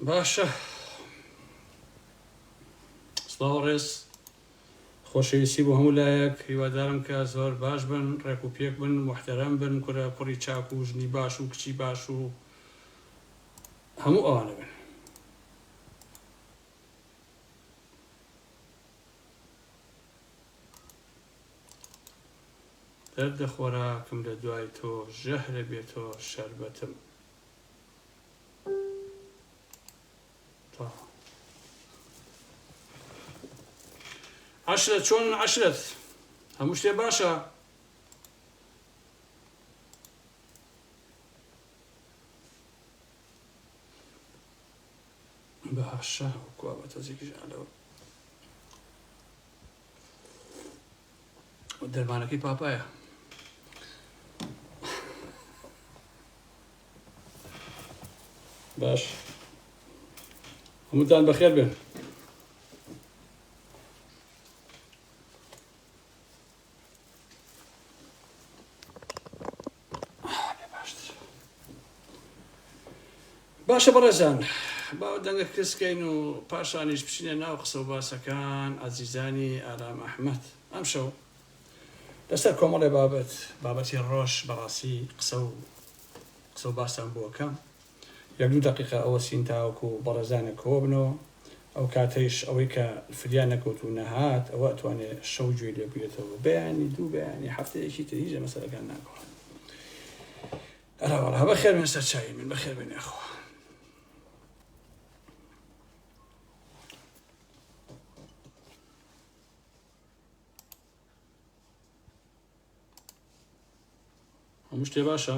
باشە سڵاو ڕێز خۆشەویستی بۆ هەموو لایەک هیوادارم کە زۆر باش بن ڕێک و پێک بن محتەرەم بن کورە کوڕی چاک و ژنی باش و کچی باش و هەموو ئەوانە بن دەردە خۆراکم لە دوای تۆ ژەهرە بێ تۆ شەربەتم عەشرەت چۆن عەشرەت هەموو شتێ باشە باشە وەکوە بە تەزێکیش ئالەوە دەرمانەکەی پاپایە باش هەمووتان بەخێر بێن باشە بەڕێزان با دەنگە کزکەین و پاشانیش بچینە ناو قسە و باسەکان ئازیزانی ئارام ئەحمەد ئەمشەو لەسەر کۆمەڵێ بابەت بابەتی ڕۆژ بەڕاستی قسە و قسە و باسان بۆکەم یەک دوو دەقیقە ئەوەسین تاوەکو بەڕێزانێ کۆبنەوە ئەوکاتەیش ئەوەی کە فریا نەکەوت و نەهات ئەوە ئەتوانێ شەو گوێی لێ بگرێتەوە بەیانی دوو بەیانی هەفتەیەکی تر هیچ لە مەسەلەکان ناگۆڕێ ئەراوەڵا بەخێر بێن سەرچاوی من بەخێر بێن یاخوا هەموو شتێ باشە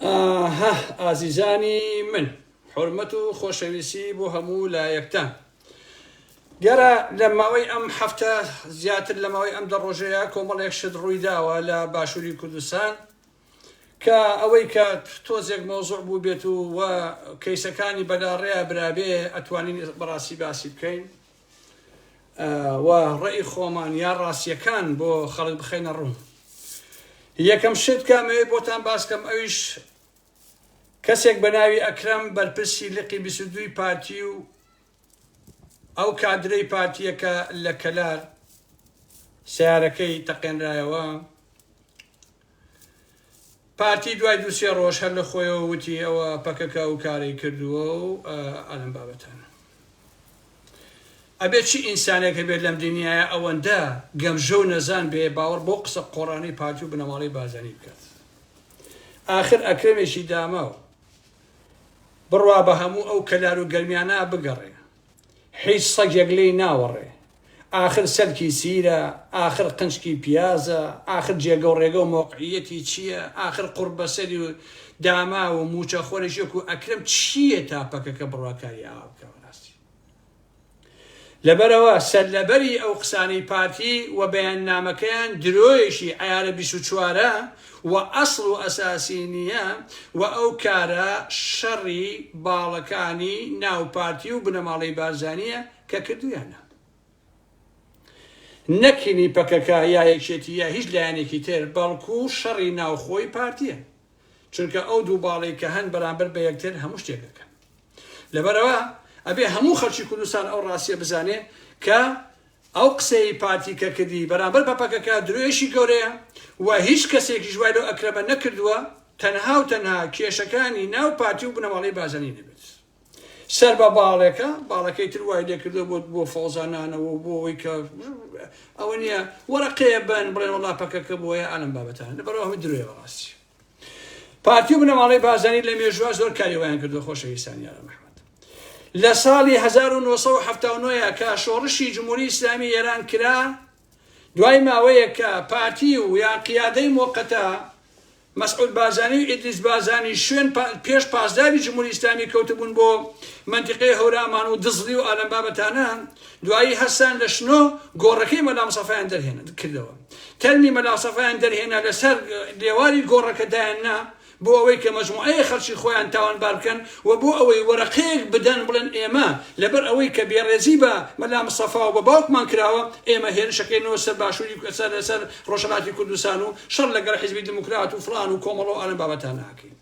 ئاهه ئازیزانی من حورمەت و خۆشەویسی بۆ هەموو لایەکتان گەرا لە ماوەی ئەم هەفتە زیاتر لە ماوەی ئەم دە ڕۆژەیە کۆمەڵێک شت ڕووی داوە لە باشووری کوردستان کە ئەوەی کە تۆزێک مۆزوع بوو بێت و و کەیسەکانی بەلاڕێیا برابێ ئەتوانین بەڕاستی باسی بکەین و ڕێی خۆمان یا ڕاستیەکان بۆ خەڵک بخەینە ڕوو یەکەم شت کامەوێت بۆتان باسکەم ئەویش کەسێک بە ناوی ئەکرەم بەرپرسی لقی بیسدووی پارتی و ئەو کادرەی پارتیەکە لە کەلار سیارەکەی تەقێنرایەوە پارتی دوای دوو سێ ڕۆژ هەر لە خۆیەوە وتی ئەوە پەکەکە ئەو کارەی کردووە و ئا لەم بابەتانە. ئەبێت چی ئینسانێک هەبێت لەم دنیایە ئەوەندە گەمژە و نەزان بێ باوەڕ بەو قسە قۆڕانەی پارتی و بنەماڵەی بارزانی بکات. ئاخر ئەکرەمێکی داماو بڕوا بە هەموو ئەو کەلار و گەرمیانە بگەڕێ هیچ سەگێک لێی ناوەڕێ ئاخر سەلکی سیرە، ئاخر قنچکی پیازە، ئاخر جێگە و ڕێگە و مەوقعییەتی چییە، ئاخر قوڕبەسەری و داماو و مووچەخۆریش وەکوو ئەکرەم چییە تا پەکەکە بڕواکاری ئاوا بکا و ڕاستی لەبەرەوە سەرلەبەری ئەو قسانەی پارتی و بەیاننامەکەیان درۆیەکی عەیارە بیست و چوارە و ئەسڵ و ئەساسی نییە و ئەو کارە شەڕی باڵەکانی ناو پارتی و بنەماڵەی بارزانییە کە کردویانە نەک هینی پەکەکە یا یەکێتی یا هیچ لایەنێکی تر بەڵکو شەڕی ناوخۆی پارتیە چونکە ئەو دوو باڵی کە هەن بەرامبەر بە یەکتر هەموو شتێک دەکەن لەبەرەوە ئەبێ هەموو خەلکی کوردستان ئەو ڕاستیە بزانێ کە ئەو قسەی پارتی کە کردی بەرامبەر بە پەکەکە درۆیشی گەورەیە و هیچ کەسێکی ژوای لەو ئەکرەمە نەکردووە تەنها و تەنها کێشەکانی ناو پارتی و بنەماڵەی بازەنی نەبێت سەر بە باڵێکە باڵەکەی تر وای لێکردو بۆ بۆ فەوزانانەوە و بۆ ئەوەی کە ئەوە نییە وەرەقەیە بن بڵێن وڵا پەکەکە بۆیە ئالم بابەتان لە بەرەوە هەمە درۆێ بەڕاستی پارتی و بنەماڵەی بازانی لە مێژوە زۆر کاری وایان کردو خۆشەویستانی یارە محمد لە ساڵی 1970 کە شۆڕشی جمهوری ئیسلامی ئێران کرا دوای ماوەیەک کە پارتی و یا قیادەی مۆقەتە مەسعود بارزانی و ئیدریس بارزانی شوێن پێش پاسداری جمهوری ئیسلامی کەوتبوون بۆ مەنتیقەی هەورامان و دزڵی و ئالەم بابەتانە دوایی هەستان لە شنۆ گۆڕەکەی مەلا مصەفایان دەرهێن کردەوە تەرمی مەلا مصەفایان دەرهێنا لەسەر لێواری گۆڕەکە دایان نا بۆ ئەوەی کە مەجموعەیەک خەڵکی خۆیان تاوانبار بکەن و بۆ ئەوەی وەرەقەیەک بدەن بڵێن ئێمە لەبەر ئەوەی کە بێڕێزی بە مەلا مستەفا و بە باوکمان کراوە ئێمە هێرشەکەینەوە سەر باشووری کورد سەر لەسەر ڕۆژهەڵاتی کوردستان و شەڕ لەگەڵ حیزبی دیموکرات و فڵان و کۆمەڵە و ئالەم بابەتانە ئەکەین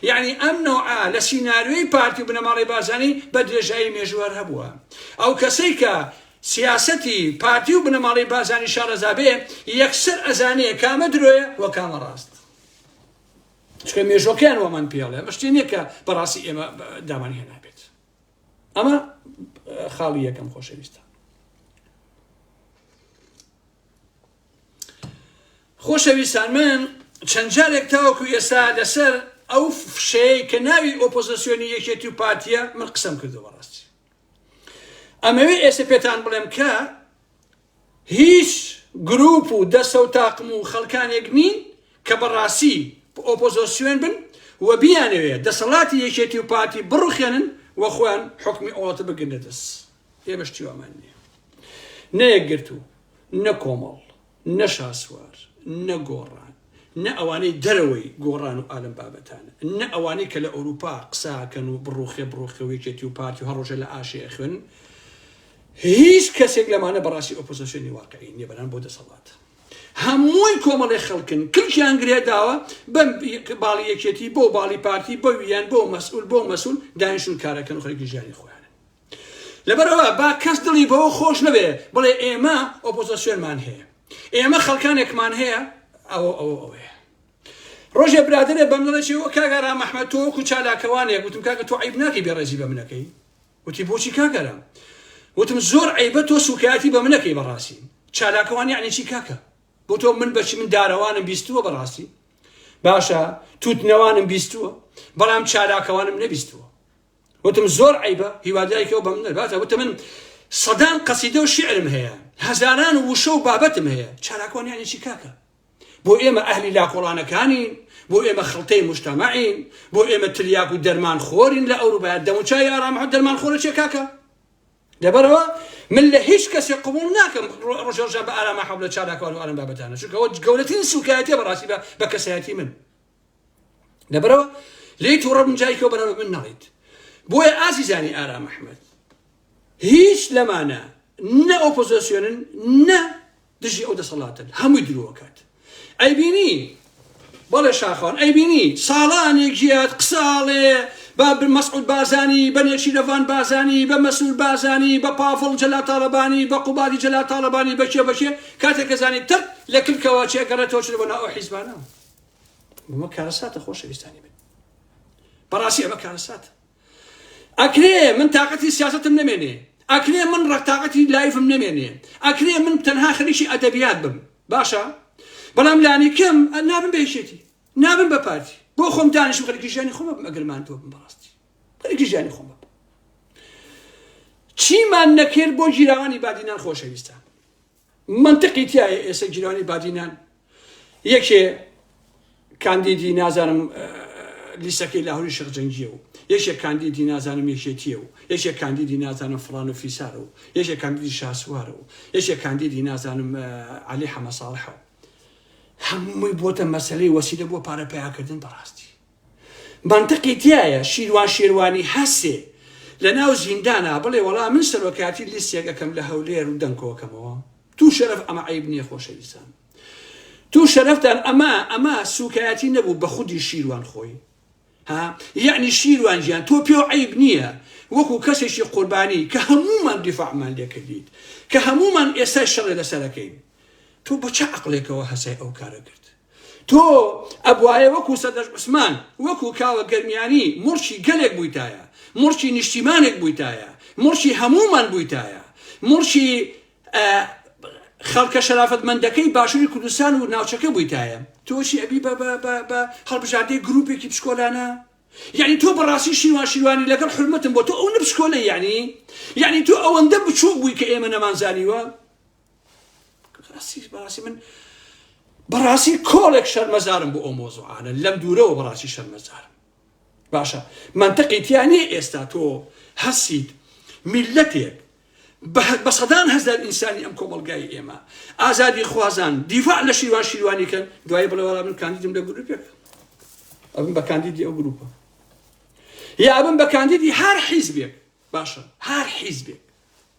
یعنی ئەم نەوعە لە سیناریۆی پارتی و بنەماڵەی بارزانی بە درێژایی مێژوو هەر هەبووە ئەو کەسەی کە سیاسەتی پارتی و بنەماڵەی بارزانی شارەزا بێ یەکسەر ئەزانێ کامە درۆیە و کامە ڕاست چکە مێژۆکەیان وەمان پێڵێ ئەمە شتێ نییە کە بەڕاستی ئێمە دامان هێنابێت ئەمە خاڵی یەکەم خۆشەویستە خۆشەویستان من چەند جارێک تاوەکو ئێستا لەسەر ئەو فشەیە کە ناوی ئۆپۆزیسیۆنی یەکێتی و پارتیە من قسم کردو بەڕاستی ئەمەوێ ئێستا پێتان بڵێم کە هیچ گروپ و دەستە و تاقم و خەڵکانێک نین کە بە ڕاستی ئۆپۆزۆسیۆن بن و بیانەوێت دەسەڵاتی یەکێتی و پارتی بڕوخێنن و خۆیان حوکمی ئۆڵەتە بگرنە دەست. ئێمەش تیوامان نیە. نە یەکگرتوو، نە کۆمەڵ، نە شاسوار، نە گۆڕان، نە ئەوانەی دەرەوەی گۆڕان و ئالەم بابەتانە، نە ئەوانەی کە لە ئەوروپا قسە ئەکەن و بڕوخێ بڕوخێ و یەکێتی و پارتی و هەڕۆژێ لە ئاشێ ئەخوێنن، هیچ کەسێک لەمانە بەڕاستی ئۆپۆزۆسێنی واقعی نیە بەران بۆ دەسەڵات هەمووی کۆمەڵێ خەڵکن کلکیان گرێ داوە بەم باڵی یەکێتی بۆ باڵی پارتی بۆ ویان بۆ مەسئول بۆ مەسول دانیشون کارەکەن خەرکی ژیانی خۆیان لەبەرەوە با کەس دڵی بەوە خۆش نەبێ بڵێ ئێمە ئۆپۆزۆسیۆنمان هەیە ئێمە خەڵکانێکمان هەیە ئەوە ئەوە ئەوەیە ڕۆژێ برادێ بەم دڵێکی وە کاگەرا مەحمەد تۆ وەکو چالاکەوانێک گوتم کاکە تۆ عیب ناکەی بێڕێزی بە منەکەی وتی بۆچی کاک ئارام؟ وتم زۆر عەیبە تۆ سوکایەتی بە من ئەکەی بەڕاستی چالاکوان یەعنی چی کاکە؟ بۆ تۆ من بەچی من دارەوانم بیستووە بەڕاستی باشە تووتنەوانم بیستووە بەڵام چالاکەوانم نەبیستووە وتم زۆر عیبە هیوادایکەوە بەم نەباتە وتە من سەدان قەسیدە و شعرم هەیە هەزاران وشە و بابەتم هەیە چالاکوان یانی چی کاکە بۆ ئێمە ئەهلی لاکۆڵانەکانین، بۆ ئێمە خڵتەی موجتەمەعین، بۆ ئێمە تلیاک و دەرمان خۆرین لە ئەوروپا، دەموچاوی ئارام محەمەد دەرمان خۆرە چیە کاکە؟ لەبەرەوە من لە هیچ کەسێک قبوڵ ناکەم ڕۆژهەڵشان بە ئارام محەمەد لە چالاکوان و ئەم بابەتانە چونکە ئەوە گەورەترین سوکایەتیە بەڕاستی بە کەسایەتی من. لەبەرەوە لێی تووڕە بن جایکەوە بەرەوە من نەڵیت بۆیە ئازیزانی ئارام ئەحمد هیچ لەمانە نە ئۆپۆزیسیۆنن نە دژی ئەو دەسەڵاتن هەمووی درۆکات ئەیبینی بەڵێ شاخوان ئەیبینی ساڵانێ گیات قساڵێ بە مەسعود بازانی بە نێچی لەڤان بازانی بە مەسول بازانی بە پافڵ جەلا تاالبانی بە قوبادی جەلا تاالبانی بەکێ بەکێ کاتێک کەزانی تەق لە کلکەوە چێگەڕێتەوە چ بۆ ناو حیزبانە ئەمە کارەساتە خۆشەویستانی من بەڕاستی ئەمە کارەساتە ئەکرێ من تااقەتی سیاستم نمێنێ ئەکرێ من ڕەتااقەتی لایفم نمێنێ ئەکرێ من تەنها خەریکی ئەدەبیات بم باشە بەڵام لانی کەم نابم بێشێتی نابم بە پارتی بۆ خۆم دانیشم خەرکی ژیانی خۆمە ئەگەرمان تۆ بم بەڕاستی خەرکی ژیانی خۆمە چیمان نەکرد بۆ گیراوانی بادینان خۆشەویستان مەنتقی تیایە ئێسە گیرانی بادینان یەکێ کاندیدی نازانم لیسەکەی لاهوری شەق جەنگیە و یەکێ کاندیدی نازانم یەکێتیە و یەکێ کاندیدی نازانم فلان و فیسارە و یەکێ کاندیدی شاسوارە و یەکێ کاندیدی نازانم علی حەمەساڵحەوە هەمووی بۆتە مەسلەی وەسیلە بۆ پارە پیاکردن بەڕاستی مەنتقی تیایە شیروان شێروانی هەسێ لەناو زیندانا بڵێ وەڵا من سەرۆکاتی لیستێک ئەکەم لە هەولێر و دەنگ کۆکەمەوە توو شەرەف ئەمە عەیب نیە خۆشەویستان توو شەرەفتان ئەمە ئەمە سوکایەتی نەبوو بە خودی شیروان خۆی ها یعنی شیروان گیان تۆ پێو عیب نییە وەکو کەسێکی قوربانی کە هەمومان دیفاعمان لێکردیت کە هەمومان ئێستای شەڕێ لەسەرەکەین تۆ بە چ عقلێکەوە هەسای ئەو کارە کرد تۆ ئەبوایە وەکو سەدەش عوسمان، وەکو کاوە گەرمیانی مڵکی گەلێک بوویتایە، مڵکی نیشتیمانێک بوویتایە، مڵکی هەموومان بوویتایە، مڵکی خەڵکە شەرافەتمەندەکەی باشووری کوردستان و ناوچەکە بوویتایە، تۆ چی ئەبی بە هەڵبژاردەی گرووپێکی پشکۆلانە؟ یعنی تۆ بەڕاستی شیروان شیروانی لەگەڵ حورمەتم بۆ تۆ ئەو نەپشکۆلە یعنی یعنی تۆ ئەوەندە بچووک بووی کە ئێمە نەمانزانیوە بەڕاستی من بەڕاستی کۆڵێک شەرمەزارم بۆ ئەو مۆزوعانە لەم دوورەوە بەڕاستی شەرمەزارم باشە منتەقی تیانێ ئێستا تۆ هەسیت میلەتێک بە سەدان هەزار ئینسانی ئەم کۆمەلگای ئێمە ئازادی خوازان دیفاع لە شیروان شیروانی کەن دوای بڵێوەڵا من کاندیدم لە گروپێک ئەبم بە کاندیدی ئەو گروپە یا ئەبم بە کاندیدی هەر حیزبێک باشە هەر حیزبێک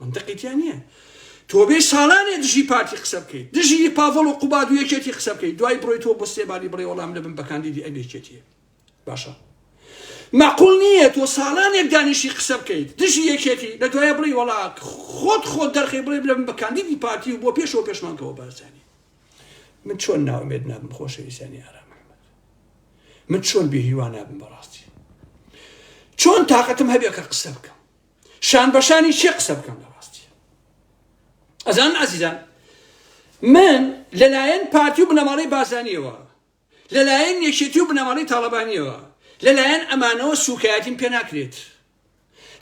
مەنتقی تیا نیە تۆ بێ ساڵانێ دژی پارتی قسە بکەیت دژی پاڤڵ و قوباد و یەکێتی قسە بکەیت دوای بڕۆی تۆ بۆ سێباری بڕێ وەڵام لەبن بە کاندیدی ئەم یەکێتیە باشە مەقول نییە تۆ ساڵانێک دانیشی قسە بکەیت دژی یەکێتی لە دوایە بڵی وەڵا خۆت خۆت دەرخی بڵێ بلم بە کاندیدی پارتی و بۆ پێشەوە پێشمانکەەوە بارزانانی من چۆن ناومێت نابم خۆشەویستانی ئارام محمد من چۆن بێهیوا نابم بەڕاستی چۆن تااقەتم هەبێ کە قسە بکەم شان بەشانی چێ قسە بکەم لە ڕاستی ئەزان ئازیزان من لەلایەن پارتی و بنەماڵی بازانیەوە لەلایەن یەکێتی و بنەماڵی تاڵەبانیەوە لەلایەن ئەمانەوە سوکایەتیم پێ ناکرێت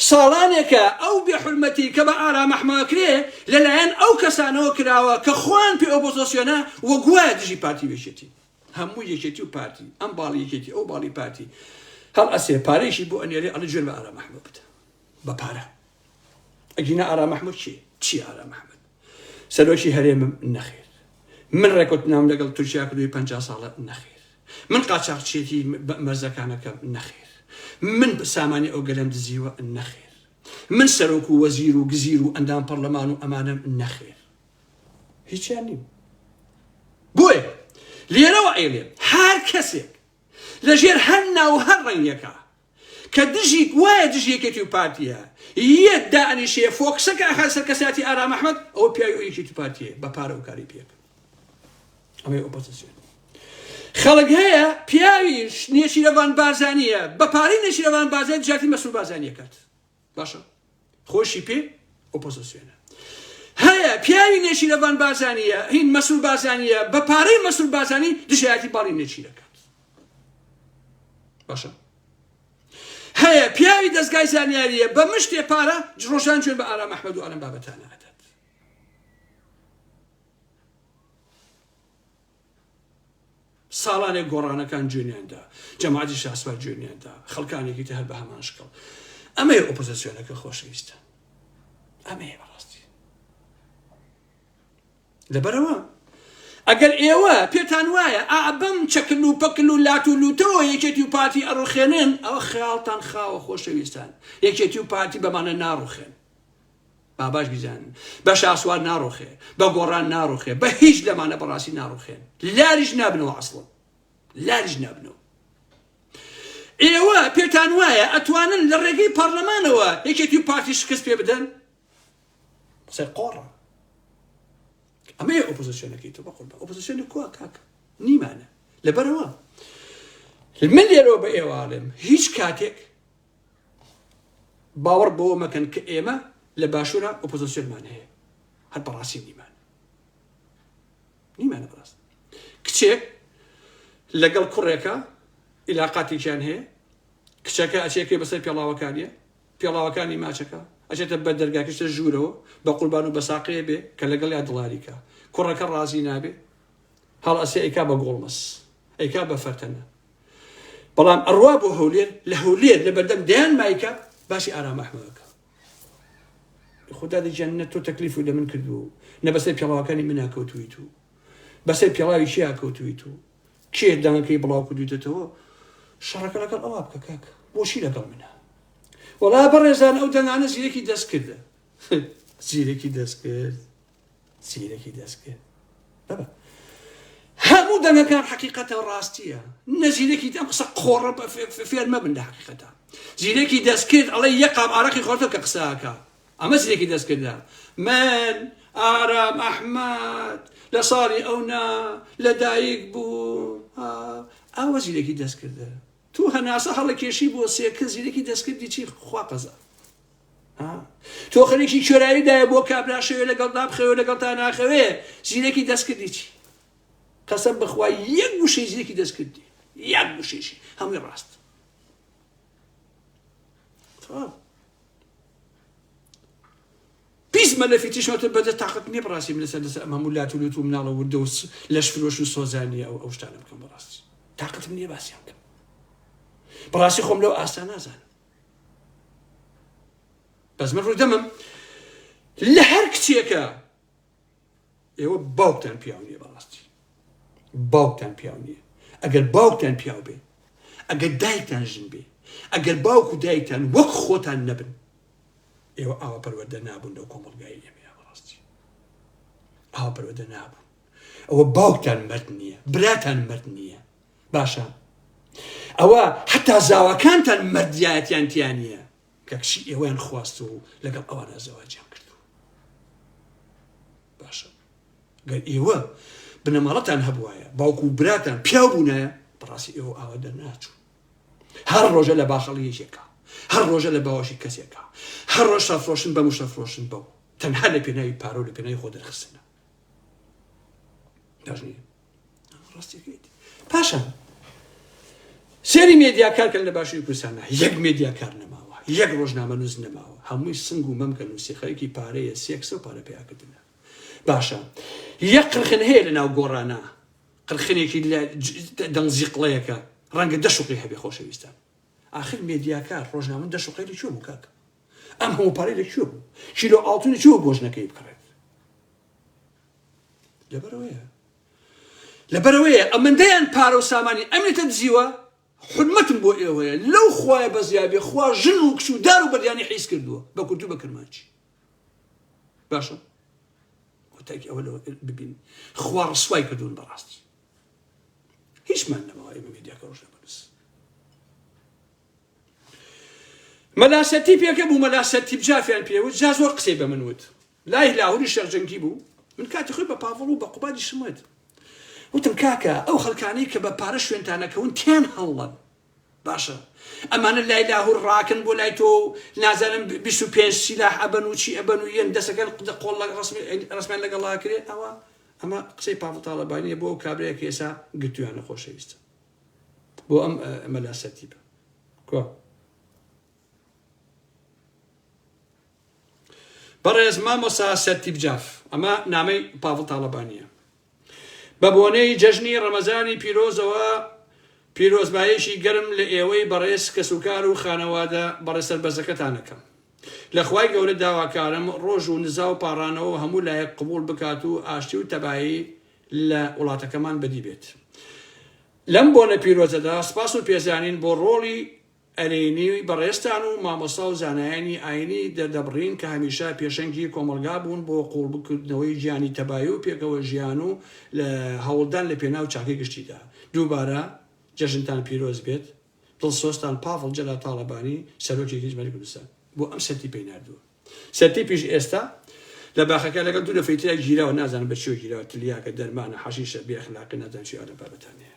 ساڵانێکە ئەو بێحرمەتی کە بە ئارامەحماکرێ لەلایەن ئەو کەسانەوە کراوە کە خوان پێ ئۆپۆزۆسیۆنە وە گوایە دژی پارتی وێشێتی هەموو یەکێتی و پارتی ئەم باڵی یەکێتی ئەو باڵی پارتی هەڵ ئەسێ پارێکی بۆ ئەنێری ئەڵە جێر بە ئارا محمود بدە بە پارە ئەگینا ئارا محمود چی چی ئارا محمود سەرۆکی هەرێمم نەخێر من ڕێکوت نام لەگەڵ تورکیا کردوی پ ساڵە نەخێر من قاچاقچێتی مەرزەکانەکەم نەخێر من سامانی ئەو گەلم دزیوە نەخێر من سەرۆک و وەزیر و گزیر و ئەندام پەرلەمان و ئەمانم نەخێر هیچیان نیم بۆیە لێرەوە ئەیڵێن هەر کەسێک لە ژێر هەر ناو هەر ڕەنگەکە کە دژی وایە دژی یەکێتی و پارتیە یەت دانیشێ فۆکسەکە ئەخا سەر کەساتی ئارام ئەحمد ئەو پیاوی ئەو یەکێتی پارتیە بە پارە و کاری پێک ئەمەی ئۆپۆزیسیۆن خەڵک هەیە پیاوی نێچیرەوان بازانیە بە پارەی نێچیرەوان بازای جاتی مەسوول بازانیە کات باشە خۆشی پێ ئۆپۆزۆسیۆنە هەیە پیاوی نێچیرەڤان بازانیە هین مەسول بازانیە بە پارەی مەسول بازانی دژایەتی باڵی نێچیرەکات باشە هەیە پیاوی دەستگای زانیاریە بە مشتێ پارە ڕۆژان جوێن بە ئارام ئەحمەد و ئەلم بابەتانە ساڵانێک گۆڕانەکان جوێنیان دا، جەماعەتی شاسوار جوێنیان دا، خەڵکانێکی تر هەر بە هەمان شکڵ. ئەمەیە ئۆپۆزسیۆنە کە خۆشەویستە. ئەمەیە بە ڕاستی. لەبەرەوە ئەگەر ئێوە پێتان وایە ئا بەم چەکل و پەکل و لات و لوتەوە یەکێتی و پارتی ئەڕوخێنن ئەوە خەیاڵتان خاوە خۆشەویستان یەکێتی و پارتی بەمانە ناڕوخێن با باش بیزانن بە شاسوار ناڕوخێ بە گۆڕان ناڕوخێ بە هیچ لەمانە بەڕاستی ناڕوخێن لاریش نابنەوە ئەسڵم لاریش نابنەوە ئێوە پێتان وایە ئەتوانن لە ڕێگەی پەرلەمانەوە یەکێتی و پارتی شکست پێ بدەن قسە قۆڕە ئەمە ئۆپۆزیسیۆنەکەی تۆ بەخۆ ئۆپۆزیسیۆنی کوا کاک نیمانە لەبەرەوە من لێرەوە بە ئێواڵێم هیچ کاتێک باوەڕ بەوە مەکەن کە ئێمە لە باشوورە ئۆپۆزۆسیۆنمان هەیە هەر بەڕاستی نیمان نیمانە بەڕاست کچێک لەگەڵ کوڕێکە ئیلاقاتێکیان هەیە کچەکە ئەچێکی بەسەر پێڵاوەکانیە پێڵاوەکانی ماچەکە ئەچێتە بە دەرگاکەشتە ژوورەوە بە قوربان و بەساقەیە بێ کە لەگەڵ یا دڵاریکە کوڕەکە ڕازی نابێ هەڵ ئەسێ ئەیکا بە گۆڵمەس ئەیکا بە فەرتەنە بەڵام ئەڕوا بۆ هەولێر لە هەولێر لە بەردەم دەیان مایکە باسی ئارام ئەحمەدەکە خدا دەجان نە تۆ تەکلیف و لە من کردو نە بەسەر پێڵاوەکانی من ناکەوتوی تو بەسەر پێڵاوی چیا کەوتوی تو کێ دانەکەی بڵاو کردویتەوە شەڕەکە لەگەڵ ئەوا بکە کاک بۆچی لەگەڵ منە وەڵا بەڕێزان ئەو دەنگانە زیرەکی دەست کردە زیرەکی دەست کرد زیرەکی دەستکرد بەبە هەموو دەنگەکان حقیقەتە و ڕاستیە نەزیرەکی دەم قسە قۆڕە بە فێر مەبن لە حقیقەتە زیرەکی دەستکرد ئەڵێ یەقام ئارەقی خۆتە کە قساکە ئەمە زیرەکی دەستکردە من ئارام ئەحمد لە ساڵی ئەونا لەدایک بوو ئاوە زیرەکی دەستکردە تو هەناسە هەڵەکێشی بۆ سێکە زیرەکی دەستکردی چی خواقەزە تۆ خەریکی کوێرایی دایە بۆ کابرا شەوێ لەگەڵ دابخەوێ لەگەڵ تا ناخەوێ زیرەکی دەستکردی چی قەسەم بەخوا یەک گوشەی زیرەکی دەستکردی یەک گوشێشی هەمووی ڕاست پیس مەلەفی تیشۆتە بەدە تااقت نیە بڕاستی لەسەر لەسەر ئەم هەموو لات و لوت و مناڵە وردە و لەش فرۆش و سۆزانانی ئەو ئەو شتانە بکەم بەڕاستی تااقتم نیە باسیان بکەم بڕاستی خۆم لەو ئاستا نازانم بەس من ڕوودەمم لە هەر کچێکە ئێوە باوکتان پیاو نیە بەڕاستی باوکتان پیاو نیە ئەگەر باوکتان پیاو بێ ئەگەر دایکتان ژن بێ ئەگەر باوک و دایکتان وەک خۆتان نەبن ئێوە ئاوا پەروەدە نابوون لەو کۆمەڵگای ئێمە بەڕاستی ئاوا پەروەدە نابوون ئەوە باوکتان مەرد نییە براتان مەرد نییە باشە ئەوە حتا زاواکانتان مردایەتیان تیانە کە کچی ئێوەیان خواست و لەگەڵ ئەوانە زەواجیان کردو باشە گەر ئێوە بنەماڵەتان هەبواە باوکو و براتان پیاو بوونە بەڕاستی ئێوە ئاوا دەرناچوو هەر ڕۆژە لە باخەڵی یەکێکە هەر ڕۆژە لە باوەشی کەسێکە هەر ڕۆژ شەفرۆشن بە مشەفرۆشن بەو تەنها لە پێناوی پارۆ لە پێناوی خۆ دەرخستنە دەژنی پاشان سێری مێدیا کارکەن لە باشووی کوردستانە یەک مێدیا کار نەماوە یەک ڕۆژنامە نووس نەماوە هەمووی سنگ و مەمکە نووسی خەرکی پارەیە سێکسە و پارە پیاکردنە باشە یەک قرخن هەیە لە ناو گۆڕانە قرخنێکی دەنگزیقڵەیەەکە ڕەنگە دەشقی هەبێ خۆشەویستان آخر مێدیاکار ڕۆژنامە دەشقی لە چۆ بوو کاکە ئەم هەموو پارەی لە چۆ بوو کیلۆ ئاڵتونی چۆ گۆژنەکەی بکڕێت لەبەرەوەیە لەبەرەوەیە ئەمەندەیان پارە و سامانی ئەمێتە دزیوە حرمەتم بۆ ئێوەیە لەو خوایە بەزیابێ خوا ژن و کچ و دار و بەدیانی حیز کردووە بە کورتی بە کرمانچی باشە کۆتاکی ئەوە لەوە ببین خوا ڕسوای کردوون بەڕاستی هیچمان نەماوە ئێمە میدیاکە ڕۆژ لە بەرز مەلاسەتی پێکە بوو مەلاسەتی بجافیان پێوت جا زۆر قسەی بە من وت لای لاهوری شێخ جەنگی بوو، من کاتی خۆی بە پاڤڵ و بە قوبادیشم وت، وتم کاکە ئەو خەلکانەی کە بە پارە شوێنتان ئەکەون تێن هەڵڵەن، باشە ئەمانە لای لاهور ڕاکەن بۆ لای تۆ و نازانم بیست و پێنج سیلاح ئەبەن و چی ئەبەن و یەن دەست ئەکەن قدە قۆڵ لە ڕەسمیان لەگەڵ ئاکرێ ئەوە ئەمە قسەی پاڤڵ تاڵەبانیە بۆ ئەو کابرایە کە ئێسا گرتویانە خۆشەویستە بۆ ئەم مەلا سەرتیبە کوا بەڕێز مامۆسا سەرتیپ جاف ئەمە نامەی پاڤڵ تاڵەبانیە بە بۆنەی جەژنی ڕەمەزانی پیرۆزەوە پیرۆزبایەکی گەرم لە ئێوەی بەڕێز کەسوکار و خانەوادە بەڕێز سەربەزەکەتان ئەکەم لە خوای گەورە داواکارم ڕۆژ و نزا و پاڕانەوە هەموو لایەک قبوڵ بکات و ئاشتی و تەبایی لە وڵاتەکەمان بەدی بێت لەم بۆنە پیرۆزەدا سپاس و پێزانین بۆ ڕۆڵی ئەرێنی بەڕێزتان و مامۆستا و زانایانی ئاینی دەردەبڕین کە هەمیشە پێشەنگی کۆمەڵگا بوون بۆ قووڵبکردنەوەی گیانی تەبایی و پێکەوە ژیان و لە هەوڵدان لە پێناو چاکەی گشتیدا. دووبارە جەژنتان پیرۆز بێت. دڵسۆزتان پاڤڵ جەلال تاڵەبانی سەرۆکی هیزمەتی کوردستان بۆ ئەم سەرتیپەی ناردووە. سەرتیپیش ئێستا لە باخەکە لەگەڵ دوو نەفەری ترا گیراوە نازانم بە چیەوە گیراوە تلیاکە، دەرمانە، حەشیشە، بێ ئەخلاقی نازانم چی ئەو ئەدەب بابەتانەیە.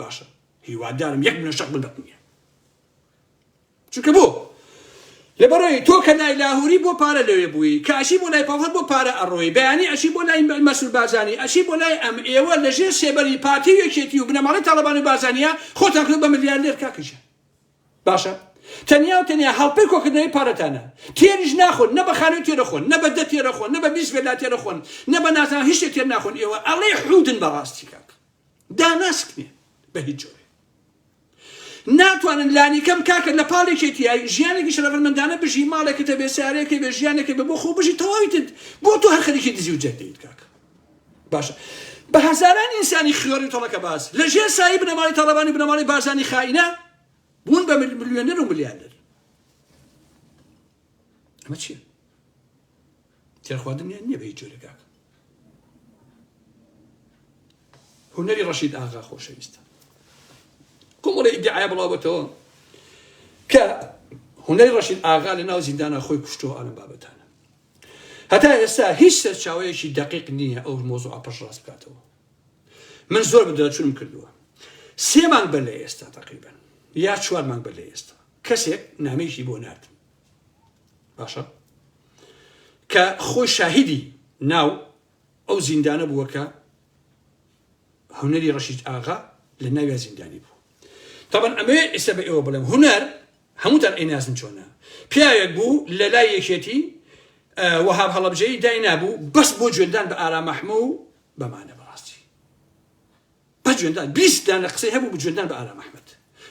باشە هیوادارم یەک منە شەق بدەت نیە چونکە بۆ لەبەرەوەی تۆ کە لای لاهوری بۆ پارە لەوێ بووی کاشی بۆ لای پاڵهەر بۆ پارە ئەڕۆی بەیانی ئەشی بۆ لای مەسول بازانی ئەشی بۆ لای ئەم ئێوە لە ژێر سێبەری پارتی یەکێتی و بنەماڵی تاڵەبان و بازانیە خۆتان کرد بە ملیاردێر کاکەجە باشە تەنیا و تەنیا هەڵپەی کۆکردنەوەی پارەتانە تێریش ناخۆن نە بە خانوی تێرە خۆن نە بە دە تێرە خۆن نە بە بیست بێلا تێرە خۆن نە بە نازان هیچ تێر ناخۆن ئێوە ئەڵێ حودن بەڕاستی کاک داناسکنێن بە هیچ جۆرێ ناتوانن لانیکەم کاکە لە پاڵ یەکێتیایی ژیانێکی شەرەفمەندانە بژی ماڵێکت هەبێ سارێکێ بێ ژیانێکێ بە بۆ خۆ بژی تەواویتت بۆ تۆ هەر خەریکی دزی و جەرد دەیت کاکە باشە بە هەزاران ئینسانی خیۆری تەڵەکە باز لە ژێر سایی بنەماڵی تاڵەبانی بنەماڵی بارزانی خائینە بوون بە ملیۆنەر و ملیاردەر ئەمە چییە تێرخواردنیان نیە بە هیچ جۆرێک کاکە هونەری ڕەشید ئاغا خۆشەویستە کۆمەڵی ئیدعای بڵاوەتەوە کە هونەری ڕەشید ئاغا لە ناو زیندانە خۆی کوشتەوە ئەلم بابەتانە هەتا ئێستا هیچ سەرچاوەیەکی دقیق نییە ئەو مۆزوع پەشڕاست بکاتەوە من زۆر بدرچونم کردووە سێمان بەر لە ئێستا تقریبن یا چوارمان بەر لە ئێستا کەسێک نامێکی بۆ نرد باشە کە خۆی شاهیدی ناو ئەو زیندانە بووە کە هونەری ڕەشید ئاغا لە ناویا زیندانی بوو تاوان ئەمێ ئێستا بە ئێوە بڵێم هونەر هەمووتان ئەینازن چۆنە پیاوێک بوو لە لای یەکێتی وەهاب هەڵبجەی دای نابوو بەس بۆ جوێندان بە ئارامەحمە و بەمانە بەڕاستی بە جوێندان بیست دانە قسەی هەبوو بجوێندان بە ئارام ئەحمەد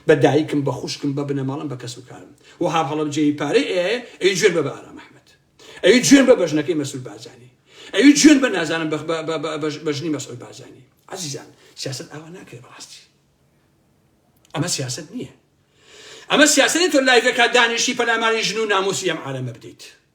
بە دایکم بە خوشکم بە بنەماڵەم بە کەس و کارم وەهاب هەڵەبجەیی پارەی ئەیایە ئەوی جوێن بە بە ئارام ئەحمەد ئەوی جوێن بە بەژنەکەی مەسول بارزانی ئەوی جوێن بە نازانم بەژنی مەسول بارزانی عزیزان سیاست ئاوا ناکرێت بەڕاستی ئەمە سیاست نییە ئەمە سیاسەتی تۆ لایڤەکە دانیشی پەلاماری ژن و ناموسی ئەم عالەمە بدەیت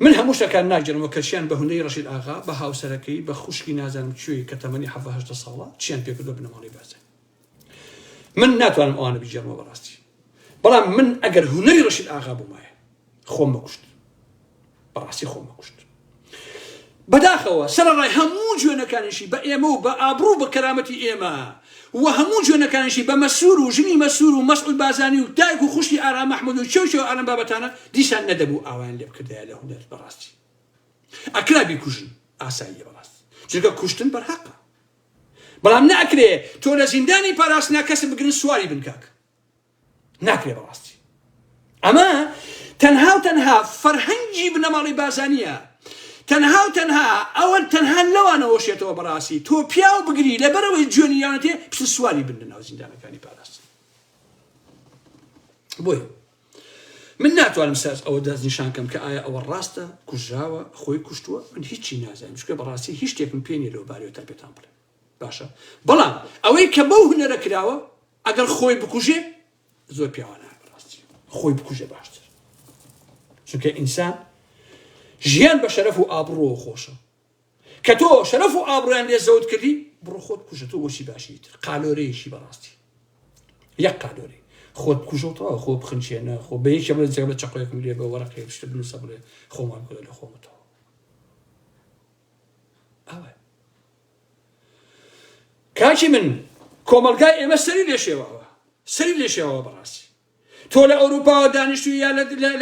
من هەموو شتەکان ناگێرم وە کەچیان بە هونەری ڕەشید ئاغا بە هاوسەرەکەی بە خوشکی نازانم کوێی کە تەمەنی حەڤە هەژدە ساڵە چیان پێ کرد بە بنەماڵەی بەرزن من ناتوانم ئەوانە بگێرمەوە بەڕاستی بەڵام من ئەگەر هونەری ڕەشید ئاغا بوومایە خۆم مەکوشت بەڕاستی خۆم مەکوشت بەداخەوە سەرەڕای هەموو جوێنەکانیشی بە ئێمە و بە ئابڕوو و بە کەرامەتی ئێمە و هەموو جوێنەکانیشی بە مەسرور و ژنی مەسرور و مەسعود بارزانی و دایک و خوشکی ئارام مەحمود و کێو کێو ئەلەم بابەتانە دیسان نەدەبوو ئاوایان لێبکردایە لە هونەر بەڕاستی ئەکرا بیکوژن ئاساییە بەڕاستی چونکە کوشتن بەرهەقە بەڵام نەئەکرێ تۆ لە زیندانی پاراستنا کەسب بگرن سواری بن کاکە ناکرێ بەڕاستی ئەمە تەنها و تەنها فەرهەنگی بنەماڵی بازانیە تەنها و تەنها ئەوە تەنها لەوانەوە شێتەوە بەڕاستی تۆ پیاو بگری لەبەرەوەی جوێنیانەتێ پس سواری بن لە ناو زیندانەکانی پاراست بۆی من ناتوانم ساز ئەوە دەست نیشان کەم کە ئایا ئەوە ڕاستە کوژراوە خۆی کوشتووە من هیچی نازانم شکێ بەڕاستی هیچ شتێکم پێێ لەو بارەوە تا پێتان بڵێ باشە بەڵام ئەوەی کە بەو هونەرە کراوە ئەگەر خۆی بکوژێ زۆر پیاوانە بەڕاستی خۆی بکوژێ باشتر چونکە ئینسان ژیان بە شەرەف و ئابڕۆوە خۆشە کە تۆ شەرەف و ئابڕیان لێ زەوت کردی بڕۆ خۆت کوژە تۆ بۆچی باشی تر قالۆرەیەکی بەڕاستی یەک قالۆری خۆت کوژەوتەوە خۆ بخنچێنە خۆ بە یەکێ بڵێ جێ بە چقۆیەکم لێ بە وەرەقێ شتە بنووسە بڵێ خۆمان بڵێ لە خۆمەتەوە کاکی من کۆمەلگای ئێمە سەری لێشێواوە سەری لێشێواوە بەڕاستی تۆ لە ئەوروپاوە دانیشتوی یا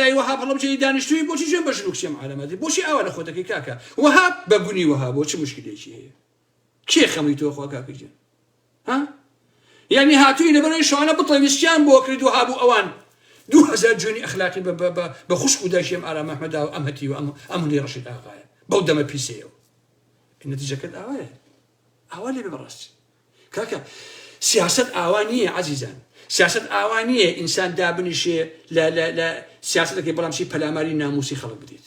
لای وەها بەڵمجێی دانیشتوی بۆچی جێن بە ژنوکسیم عالەمەدی بۆچی ئاوا لە خۆتەکەی کاکە وەها بە گونی وەها بۆچی مشکلێکی هەیە کێ خەمی تۆ خۆکاکەجێن ها یەعنی هاتووینە بەرەوەی شەوانە بتڵێ ویسکیان بۆ کرد و هابوو ئەوان دوو هەزار جوێنی ئەخلاقی بە بە بە بە خوشک و دایکی ئەم ئارام ئەحمەدا و ئەم هەتی و ئەم ئەم هەندی ڕەشید ئاغایە بەو دەمە پیسەیە و نەتیجەکەت ئاوایە ئاوا لێ بەڕاستی کاکە سیاست ئاوا نییە عزیزان سیاست ئاوا نییە ئینسان دابنیشێ لە لە لە سیاستەکەی بەڵام چی پەلاماری ناموسی خەڵک بدێت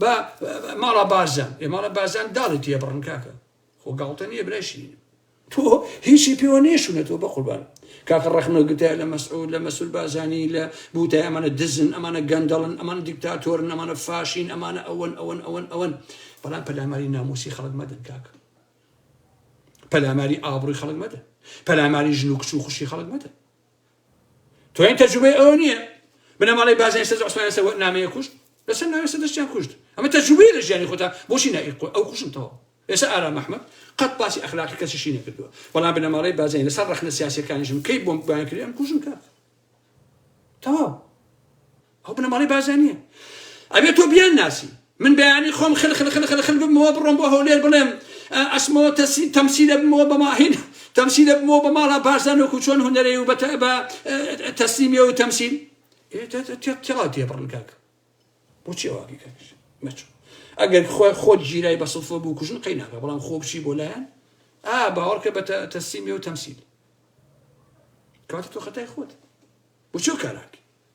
با ماڵا بارزان ئێ ماڵا بارزان داڵی تێ بڕن کاکە خۆ گاڵتە نییە برای شیرینم تۆ هیچی پێوە نێشونە تۆ بەقوربان کاکە ڕەخنە گرتە لە مەسعود لە مەسول بازانی لە بوتای ئەمانە دزن ئەمانە گەندەڵن ئەمان دیکتاتۆرن ئەمانە فاشین ئەمانە ئەوەن ئەوەن ئەوەن ئەوەن بەڵام پەلاماری ناموسی خەڵک مەدەن کاکە پەلاماری ئابڕوی خەڵک مەدە پەلاماری ژن و کچ و خوشی خەڵک مەدە توێن تەجروبەی ئەوە نییە بنەماڵەی بازنەی سەرجە عوسمانیان سەر نامەیە کوشت لەسەر ناوی سەدەشتیان کوشت ئەمە تەجروبەیە لە ژیانی خۆتان بۆچی نائی ئەو کوشنتەوە ئێستا ئارام ئەحمەد قەت باسی ئەخلاقی کەسیشی نەکردووە بەڵام بنەماڵەی بازنەی لەسەر ڕەخنە سیاسیەکانیشم کەی بۆمبیان کرد ئەم کوشم کات تەواو ئەو بنەماڵەی بارزانیە ئەبێ تۆ بیان ناسی من بەیانی خۆم خل خل خل خل خل بمەوە بڕۆم بۆ هەولێر بڵێم ئەسمەوە تەسی تەمسیلە بمەوە بە ماهین تەمسیلە بمەوە بە ماڵا بارزان وەکو چۆن هونەرەی و بەتە بە تەسلیمیە و تەمسیل تێڵا تێ بڕن کاک بۆچی واقی کەش مەچوو ئەگەر خۆ خۆت گیرای بە سڵفە بوو کوژن قەی ناکە بەڵام خۆ بچی بۆ لایەن ئا باوەڕکە بە تەسیمی و تەمسیل کاتە تۆ خەتای خۆت بچۆ کاراک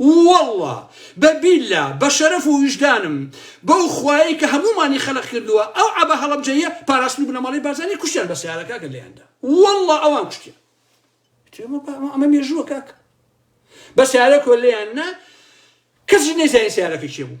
واللە بە بیللا بە شەرەف و ویژدانم بەو خوایەی کە هەموومانی خەلق کردووە ئەو عەبە هەڵەبجەییە پاراستن و بنەماڵەی بارزانی کوشتیان بە سەیارە کاکە لێیان دا واللە ئەوان کوشتیان ئەمە ئەمە مێژووە کاکە بە سەیارە کۆ لێیان نا کەسی نەیزانی سەیارەکە کێ بوو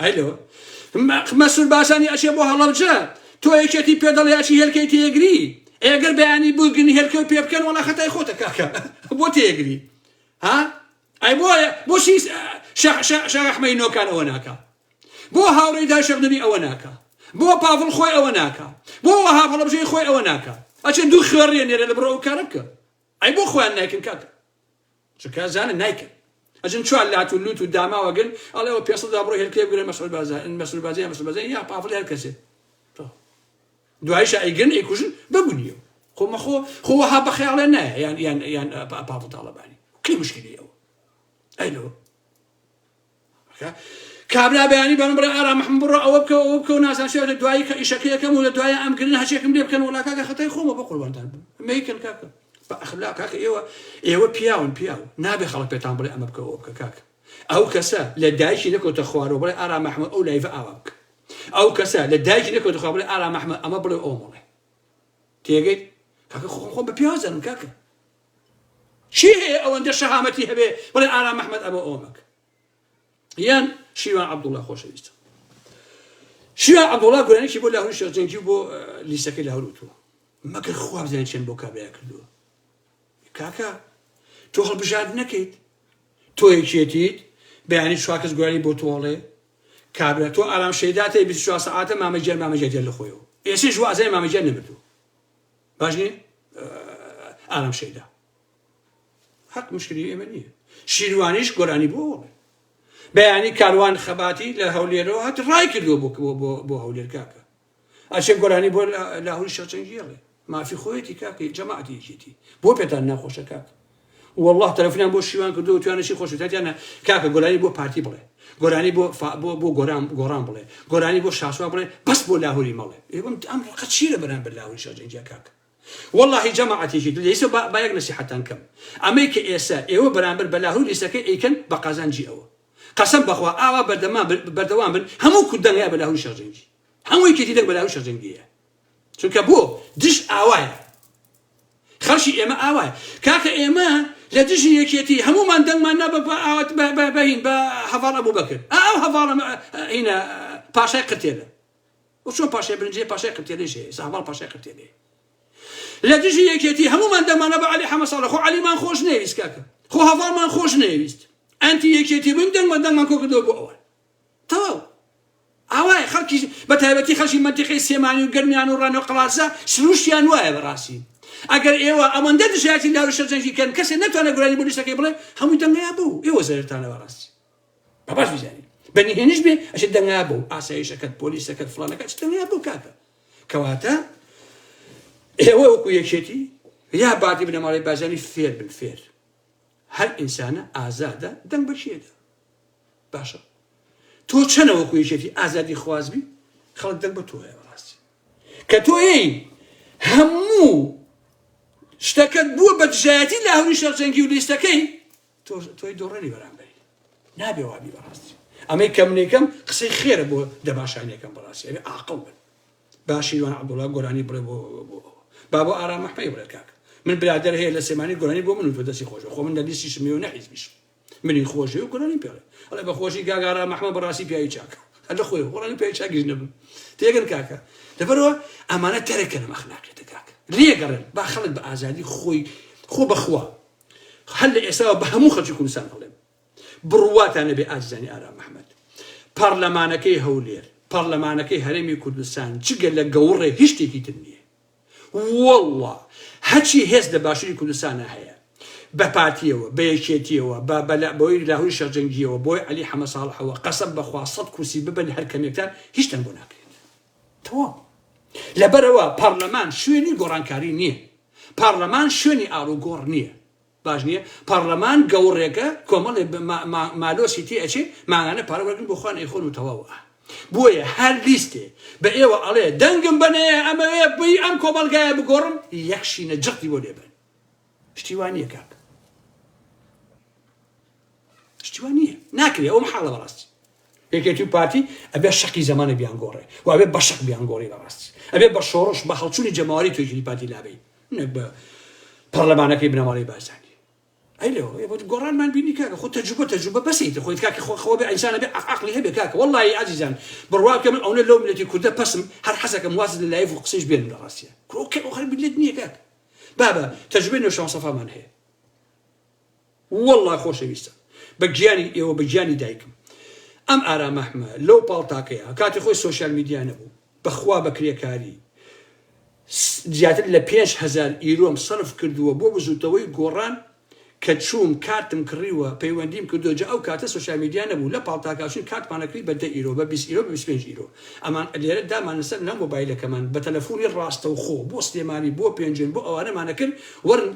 ئایلۆ، مەسرور بارزانی ئەچێ بۆ هەڵەبجە، تۆ یەکێتی پێ دەڵێ ئەچی هێلکەی تێیەگری، ئەی گەر بەیانی بووگن هێلکەو پێ بکەن وەڵا خەتای خۆتە کاکە بۆ تێیەگری ها ئەی بۆ بۆچی شێخ ئەحمەی نۆکان ئەوە ناکا بۆ هاوڕێی دا شێخ نوری ئەوە ناکا بۆ پاڤڵ خۆی ئەوە ناکا بۆ وەها هەڵەبژەی خۆی ئەوە ناکا ئەچێ دوو خوێڕیە نێرە لە بڕەوە کارە بکە ئەی بۆ خۆیان نایکن کاکە چونکە ئەزانن نایکەن ئەجن چوار لات و لوت و داماوە گن ئەڵێ ئەو پێسە دا بڕۆ هێلکەیە بگرە مەسعود بازرگان مەسعود بازرگان مەسعود بازرگان یا پافڵ هەر کەسێ دوایش ئەیگرن ئەیکوژن بەگونیەوە خۆ مەخۆ خۆ وەها بەخەیاڵێ نایە یان یان یان پافڵ تاڵەبانی کەی مشکلی ئەوە ئەی لەوە کابرا بەیانی بەرم بڕێ ئارام محمد بڕۆ ئەوە بکەو ئەوە بکەو نازان شێ لە دوایی کە ئیشەکە یەکەم و لە دوایی ئەم گرن هەچێکم لێ بکەن وڵا کاکە خەتای خۆمە بە قوربانتان بم مەیکەن کاکە بە ئەخلا کاکە ئێوە ئێوە پیاون پیاو نابێ خەڵک پێتان بڵێ ئەمە بکەوە بکە کاکە ئەو کەسە لە دایکی نەکەوتە خوارەوە بڵێ ئارام محمد ئەو لایڤە ئاوا بکە ئەو کەسە لە دایکی نەکەوتە خوارەوە بڵێ ئارام محمد ئەمە بڵێ ئەو مڵێ تێگەیت کاکە خۆم خۆم بە پیاوزانم کاکە کێ هەیە ئەوەندە شەهامەتی هەبێ بڵێ ئارام ئەحمەد ئەمەو ئەوە مەکە یان شیوان عەبدوڵا خۆشەویستم شیوان عەبدوڵا گۆرانێکی بۆ لاهوری شێخ جەنگی و بۆ لیسەکەی لاهور وتووە مەگەر خوا بزانێت چێن بۆ کابرای کردووە کاکە تۆ هەڵبژارد نەکەیت تۆ یەکێتیت بەیانی چوار کەس گۆرانی بۆ تۆڵێ کابرا تۆ ئارام شەیداتە 24 سەعاتە مامەجیان مامەجیان لە خۆیەوە ئێسش وازای مامەجیان نەمردوو باش نییە ئارام شەیدا حەق مشکلی ئێمە نییە شیروانیش گۆرانی بۆ وڵێ بەیانی کاروان خەباتی لە هەولێرەوە هەت ڕای کردووە بکەوە بۆ هەولێر کاکە ئەچێ گۆرانی بۆ لاهوری شەچەنگیڵێ مافی خۆیەتی کاکە جەماعتی یەکێتی بۆ پێتان ناخۆشە کاکە وەڵا تەلەفونیان بۆ شیوان کردوە وتویانە چی خۆشت وتیانە کاکە گۆرانی بۆ پارتی بڵێ گۆرانی بۆ فا بۆ بۆ گۆران گۆڕان بڵێ گۆرانی بۆ شاسوار بڵێ بەس بۆ لاهوری مەڵێ ئێ ئەم ئەم ڕقە چی لە بەرامبەر لاهوری شا جەنگیا کاک وەڵاهی جەماعەتێکی دل ئێسە با بایەک نەسیحەتتان کەم ئەمەی کە ئێسە ئێوە بەرامبەر بە لاهوری لیستەکەی ئەیکەن بە قازانجی ئەوە قەسەم بەخوا ئاوا بەردەمان بن بەردەوام بن هەموو کورد دەنگە بە لاهوری شا جەنگی هەموو یەکێتی لەو بەلاو شەرجەنگیەیە چونکە بۆ دژ ئاوایە خەڵکی ئێمە ئاوایە کاکە ئێمە لە دژی یەکێتی هەمومان دەنگمان نا بە ئاوات بەهین بە هەواڵ ئەبوو بەکرد ئەو هەواڵە هینە پاشای قرتێلە وچۆن پاشای برنجێ پاشای قرتێلێش ساواڵ پاشای قرتێلێ لە دژی یەکێتی هەمومان دەمانە بە علی حەمە ساڵە خۆ علیمان خۆش نەویست کاکە خۆ هەواڵمان خۆش نەویست ئەنتی یەکێتی بووین دەنگمان دەنگمان کۆ کردەوە بۆ ئەوان تەواو ئاوایە خەڵکی بەتایبەتی خەڵکی مەنتیقەی سێمانی و گەرمیان و ڕەنە و قەڵادزە سروشتیان وایە بەڕاستی ئەگەر ئێوە ئەوەندە دژایەتی لاروشە جەنگی کەن کەسێ نەتوانێ گۆرانی بۆ لیستەکەی بڵێ هەمووی دەنگەیا بۆ و ئێوە زەرتانە بەڕاستی با باش بزانین بەنی هێنش بێ ئەشێ دەنگەیا بۆ ئاسایشەکەت پۆلیسەکەت فڵانەکە چ دەنگەیا بۆ کاکە کەواتە ئێوە وەکو یەکێتی یا باتی بنەماڵی بازانی فێر بن فێر هەر ئینسانە ئازادە دەنگ بەشێدا باشە تۆ چەنە وەکو یەکێتی ئازادی خواز بی خەڵک دەنگ بە تۆ هەیە بەڕاستی کە تۆ یەی هەموو شتەکەت بووە بە دژایەتی لە هەوری شەرجەنگی و لیستەکەی تۆی دۆڕێنی بەرامبەری نابێ وابی بەڕاستی ئەمەی کەم لێکەم قسەی خێرە بۆ دەباشانەکەم بەڕاستی ئەوێ ئاقڵ بن باشیوان عبدوڵا گۆرانی بڵێ بۆ با بۆ ئارام مححمەی بڵێ کاک من برادر هەیە لە سێمانی گۆرانی بۆ من و تۆ دەستی خۆش خۆ من لە لیستی شمێ و نەحیزبیشم منی خۆشدەوێ و گۆرانی پێڵێ ئەڵێ بە خۆشی کاک ئارام ئەحمەد بەڕاستی پیاوی چاکە هەر لە خۆی خۆڕانی پیاوی چاکیش نەبم تێگەن کاکە لەبەرەوە ئەمانە تەرەکە لەم ئەخلاقێتە کاکە لێگەڕێن با خەڵک بە ئازادی خۆی خۆ بەخوا هەر لە ئێساوە بە هەموو خەڵکی کوردستان هەڵێم بڕواتان نەبێ ئازیزانی ئارام محمد پارلەمانەکەی هەولێر پارلەمانەکەی هەرێمی کوردستان جگە لە گەوڕێ هیچ شتێکی تر نییە وەڵڵا هەچی هێز لە باشوری کوردستانا هەیە بە پارتیەوە بە یەکێتیەوە بە بە لە بەوەی لاهوری شێخ جەنگیەوە بۆی عەلی حەمە ساڵحەوە قەسەم بە خوا سەد کورسی ببەن هەر کەمێکتان هیچتان بۆ ناکرێت تەواو لەبەرەوە پارلەمان شوێنی گۆڕانکاری نییە پارلەمان شوێنی ئاڵوگۆڕ نییە باش نیە پارلەمان گەوڕێکە کۆمەڵێ مالۆسی تێ ئەچێ مانگانە پارە وەرگن بۆ خوان ئەیخۆن و تەواو ئا بۆیە هەر لیستێ بە ئێوە ئەڵێ دەنگم بەنەیە ئەمەوێ بی ئەم کۆمەڵگایە بگۆڕم یەک شینە جەقی بۆ لێبەن شتی وا نیە کاک شتی وا نیە ناکرێ ئەوە محاڵە بەڕاستی یەکێتی و پارتی ئەبێ شەقی زەمانە بیانگۆڕێ و ئەبێ بە شەق بیانگۆڕی بەڕاستی ئەبێ بە شۆڕش بە هەڵچوونی جەماوەری توێژی پارتی لابی نەک بە پەرلەمانەکەی بنەماڵەی بارزانی ئەی لەوە ئێ بۆت گۆڕانمان بینی کاکە خۆ تەجروبە تەجروبە بەسیت خۆی کاکە خۆ خەوە بێ ئینسانە بێ عەق- عەقلی هەبێ کاکە وەڵڵاهی ئازیزان بڕوا بکە من ئەونە لەو ملەتی کوردە پەسم هەر حەزەکەم واز لە لایڤ و قسەیش بێنم لە ڕاستیە کرۆکە ئەو خەر ملت نییە کاک بابە تەجروبەی نەوشەوان سەفامان هەیە وەڵڵا خۆشەویستە بە گیانی ئێوە بە گیانی دایکم ئەم ئارام ئەحمە لەو پاڵتاکەیا کاتی خۆی سۆشیال میدیا نەبوو بەخوا بە کرێکاری زیاتر لە پێنج هەزار ئیرۆم سەرف کردووە بۆ بزوتەوەی گۆڕان کە چووم کارتم کڕیوە پەیوەندیم کردووە جا ئەو کاتە سۆشیال میدیا نەبوو لە پاڵتاکا چووین کارتمانەکڕی بە دە ئیرۆ بە بیست ئیرۆ بە بیست و پێنج ئیرۆ ئەمان لێرە دامان لەسەر ناو مۆبایلەکەمان بە تەلەفونی ڕاستەوخۆ بۆ سلێمانی بۆ پێنجوێن بۆ ئەوانەمان ئەکرد وەرن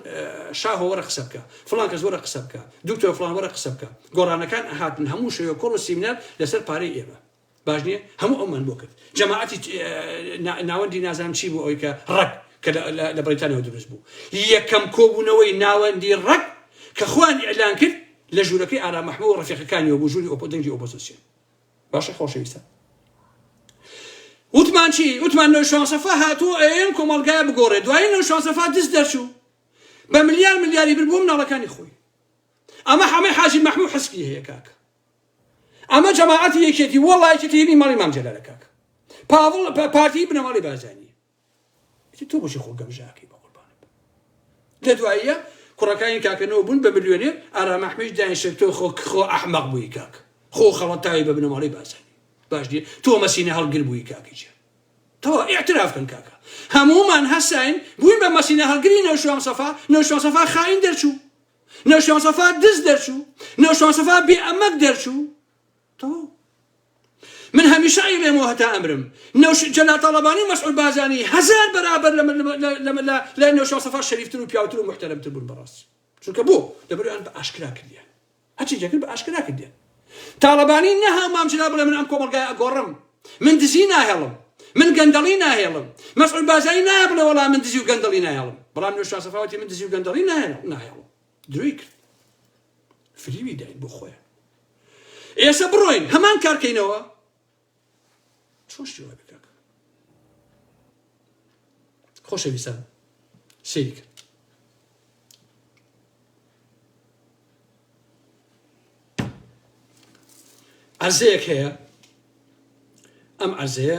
شاهۆ وەرە قسە بکە فڵان کەس وەرە قسە بکە دوکتۆر فڵان وەرە قسە بکە گۆڕانەکان ئەهاتن هەموو شەوێ کۆڕ و سیمینار لەسەر پارەی ئێمە باش نییە هەموو ئەومان بۆ کرد جەماعەتی ناوەندی نازانم چی بوو ئەوی کە ڕەک کە لە بریتانەوە دروست بوو یەکەم کۆبوونەوەی ناوەندی ڕەک کە خوان ئیلان کرد لە ژوورەکەی ئارام محمود و ڕفیقەکانیەوە بوو ژووری ئۆپۆ دەنگی ئۆپۆزیسیۆن باشە خۆشەویستان وتمان چی وتمان نۆشوان سەفا هاتوو ئەم کۆمەڵگای بگۆڕێ دوای نۆشوان سەفا دز دەرچوو بە ملیار ملیاری بر بۆ مناڵەکانی خۆی ئەمە حەمەی حاجی مەحموو حسبی هەیە کاک ئەمە جەماعەتی یەکێتی وەڵایەتی ماڵی مام جەلالە کاک پاوڵ پارتی بنەماڵی بازانی ئیتر تۆ بۆچی خۆ گەمژاکەی بەقوربانت بم لە دواییە کوڕەکانی کاکە نەوە بوون بە ملیۆنێر ئارام ئەحمەیش دایان شێت تۆ خۆ خۆ ئەحمەق بووی کاک خۆ خەڵەتاوی بە بنەماڵەی بارزانی باش دیێ تۆ مەسینە هەڵگر بووی کاکی جێ تەوا ئیعتراف کەن کاکە هەموومان هەساین بووین بە مەسینە هەڵگری نەوشوان سەفا نەوشوان سەفا خاین دەرچوو نەوشوان سەفا دز دەرچوو نەوشوان سەفا بێ ئەمەک دەرچوو تەواو من هەمیشە ئەیڵێمەوە هەتا ئەمرم نەوش جەلال تاڵەبانی و مەسعود بازانی هەزار بەرابەر لە نەوشاو سەفا شەریفتر و پیاوتر و محتەرەمتر بوون بەڕاست چونکە بۆ لەبەریان بە ئاشکرا کردیان هەچی جەکرد بە ئاشکرا کردیان تاڵەبانی نەها مامجلا بڵێ من ئەم کۆمەلگای ئەگۆڕم من دزی ناهێڵم من گەندەڵی ناهێڵم مەسعود بازانی نایە بڵێ وەڵا من دزی و گەندەڵی ناهێڵم بەڵام نەوشاو سەفاوەتی من دزی و گەندەڵی ناهێڵم درۆی کرد فریوی داین بۆ خۆیان ئێسە بڕۆین هەمان کارکەینەوە چۆن شتی وای بکاکە خۆشەویستان سێری کرد عەرزەیەک هەیە ئەم عەرزەیە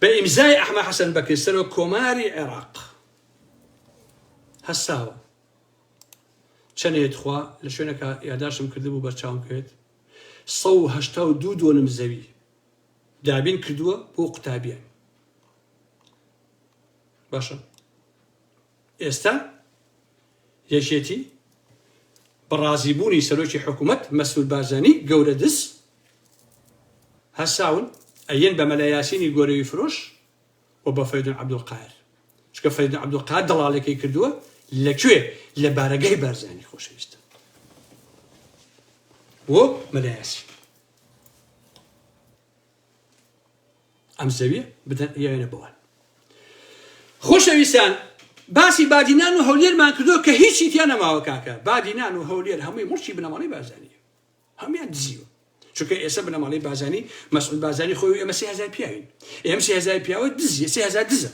بە ئیمزای ئەحمە حەسەن بەکر سەرۆک کۆماری عێراق هەستاوە چەنێت خوا لە شوێنەکە یاداشم کردبوو بەرچاوم کرد 1970 دۆنم زەوی دابین کردووە بۆ قوتابیان باشە ئێستا یەکێتی، بە ڕازیبوونی سەرۆکی حکوومەت مەسرور بارزانی، گەورە دز، هەساون ئەیەن بە مەلا یاسینی گۆرەوی فرۆش و بە فەریدون عەبدولقاهر، چونکە فەریدون عەبدولقاهر دەڵاڵێکەی کردووە، لە کوێ؟ لە بارەگای بارزانی خۆشەویستن بۆ مەلا یاسین. ئەم زەویە بدەن یاوێنە بەوان خۆشەویستان باسی بادینان و هەولێرمان کردو کە هیچی تیا نەماوە کاکە بادینان و هەولێر هەمووی مڵکی بنەماڵی بازانیە هەموان دزیوە چونکە ئێستا بنەماڵی بازانی مەسعود بازانی خۆی ئێمە سێ هزار پیاوین ئێم سێ هزار پیاوە دزیە سێ هزار دزە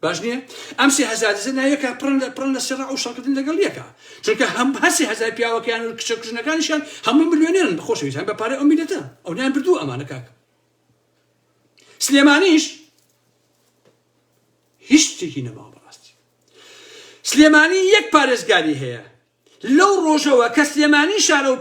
باش نییە؟ ئەم سێ هەزار دزە ناویەکە پڕن لە پڕن لە سڕە و شەڕکردن لەگەڵ یەکە چونکە هەم هەر سێ هەزار پیاوەکەیان و کچە کوژنەکانیشیان هەمووی ملیۆنێرن بەخۆشەویستان بە پارەی ئەو میلەتە ئەو نیان بردوو ئەمانە کاک سلێمانیش هیچ شتێکی نەماوە بەڕاستی سلێمانی یەک پارێزگاری هەیە لەو ڕۆژەوە کە سلێمانی شارە و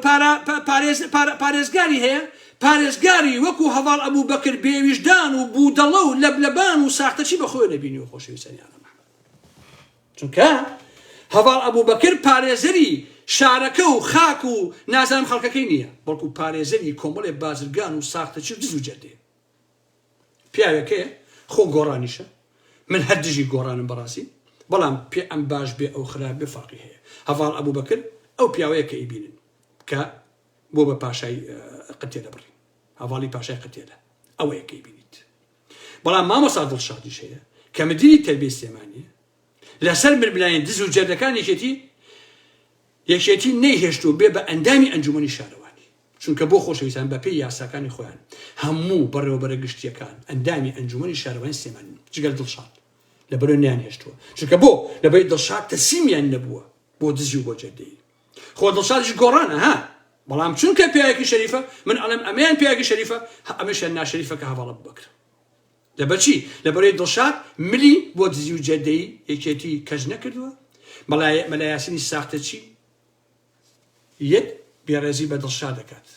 پارێزگاری هەیە، پارێزگاری وەکو هەڤاڵ ئەبوبەکر بێ ویژدان و بودەڵە و لەبلەبان و ساختەچی بە خۆێ نەبینیوە خۆشەویستانی ئاغا مەحمەد. چونکە هەڤاڵ ئەبوبەکر پارێزەری شارەکە و خاک و نازانم خەڵکەکەی نییە، بەڵکو پارێزەری کۆمەڵێ بازرگان و ساختەچی و دز و جەردەیە. پیاوێکەیە خۆ گۆڕانیشە من هەر دژی گۆڕانم بەڕاستی بەڵام پێ ئەم باش بێ ئەو خراپ بێ فەڕقی هەیە هەڤاڵ ئەبوبەکر ئەو پیاوەیە کە ئیبینن کە بۆ بە پاشای قتێدە بڕی هەواڵی پاشای قتێدە ئەوەیە کەی بینیت بەڵام مامۆسا دڵشادیش هەیە کە مدیری تەربی سێمانی لەسەر مربلانی دز و جەردەکان یەکێتی یەکێتی نەیهێشت و بێ بە ئەندامی ئەنجومی شارەوانی چونکە بۆ خۆشەویستان بەپێی یاساکانی خۆیان هەموو بەڕێوەبەرە گشتییەکان ئەندامی ئەنجومەنی شارەوانی سلێمانین جگەل دڵشاد لە بەرۆ نەیانهێشتووە چونکە بۆ لەبەری دڵشاد تەسیمیان نەبووە بۆ دزی و بۆ جەردەیی خۆ دڵشادیش گۆڕانە ها بەڵام چونکە پیاوێکی شەریفە من ئەڵێم ئەمەیان پیاوێکی شەریفە هە ئەمەشیان ناشەریفە کە هەڤاڵە بوبەکر لەبەرچی لەبەرەی دڵشاد ملی بۆ دزی و جەردەیی یەکێتی کەس نەکردووە مەلا مەلا یاسینی ساختەچی یەک بێڕێزی بە دڵشاد دەکات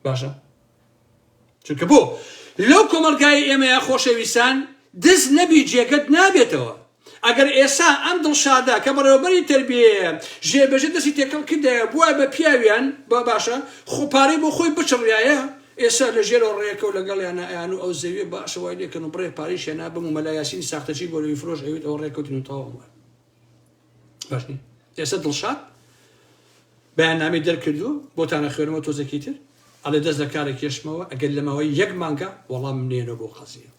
باشە چونکە بۆ لەو کۆمەڵگای ئێمەیە خۆشەویستان دز نەبی جێگەت نابێتەوە ئەگەر ئێسا ئەم دڵشادە کە بەڕێوەبەری تربیەیە ژێبەژە دەستی تێکەڵ کردایە بووە بە پیاویان با باشە خۆپارەی بۆ خۆی بچڕایە ئێسا لە ژێرەوە ڕێکە و لەگەڵ یانە ئەیان و ئەو زەویێ باشەوای لێکەن و بڕێ پاریشیان نابم و مەلایاسینی ساختەچی گۆرەوی فرۆش ئەوێت ئەوە ڕێکەوتن و تەواو بووە ئێستا دڵشاد بەیاننامەی دەرکردو بۆتانە خوێنەوە تۆزێکی تر ئەڵێ دەست لە کارە کێشمەوە ئەگەر لە ماوەی یەک مانگە وەڵام نێنەوە بۆ قەزیە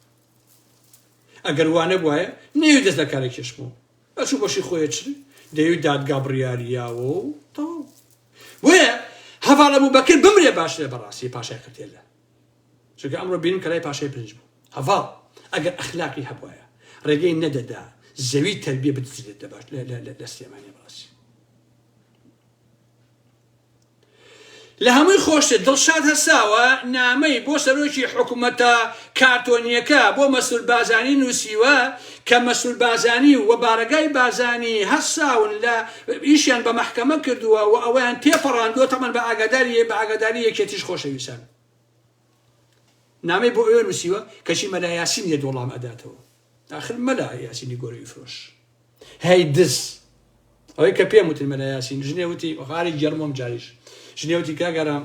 ئەگەر وانە بواە نێوی دەست لە کارە کێشمەوە ئەچوو بەشی خۆیە چ دەوی دادگا بڕیاریاوە و تەواو وەیە هەواڵە بوو بەکرد بمرێ باش لێ بەڕاستی پاشای قتێلە چونکە ئەمڕۆ بینیم کە لای پاشای برنج بوو. هەڤاڵ ئەگەر ئەخلاقی هەبوایە ڕێگەی نەدەدا زەوی تەربیە بدزرێت لە باش لە سلێمانی بەڕاستی لە هەمووی خۆشتر دڵشاد هەساوە نامەی بۆ سەرۆکی حکوومەتە کارتۆنیەکە بۆ مەسول بازانی نووسیوە کە مەسرور بارزانی و بارەگای بارزانی هەر ساون لە ئیشیان بە مەحکەمە کردووە و ئەوەیان تێپەڕاندووە تەمان بە ئاگاداری بە ئاگاداری یەکێتیش خۆشەویستان نامەی بۆ ئەوێ نووسیوە کەچی مەلا یاسین یە دۆڵام ئەداتەوە داخل مەلا یاسینی گۆرەوی فرۆش هەی دز ئەوەی کە پێم وتن مەلا یاسین ژنێ وتی غاری گێڕم ئەم جاریش ژنێ وتی کاک ئارام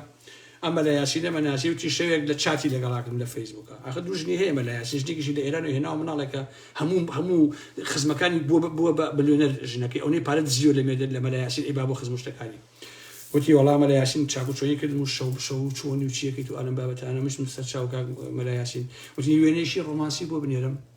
ئەم مەلا یاسینە مەناسی وتی شەوێک لە چاتی لەگەڵا کردم لە فەیسبووکە ئاخر دوو ژنی هەیە مەلا یاسین ژنێکیشی لە ئێران و هێناوە مناڵێکە هەموو هەموو خزمەکانی بووە بووە بە ملیۆنەر ژنەکەی ئەونەی پارە دزیوە لە مێدە لە مەلا یاسین ئەی بابۆ خزم و شتەکانی وتی وەڵا مەلا یاسین چاکو چۆنی کردم و شەو شەو و چۆنی و چیەکەیت و ئەلەم بابەتانە مشتم سەر چاو کاک مەلا یاسین وتی وێنەیشی ڕۆمانسی بۆ بنێرم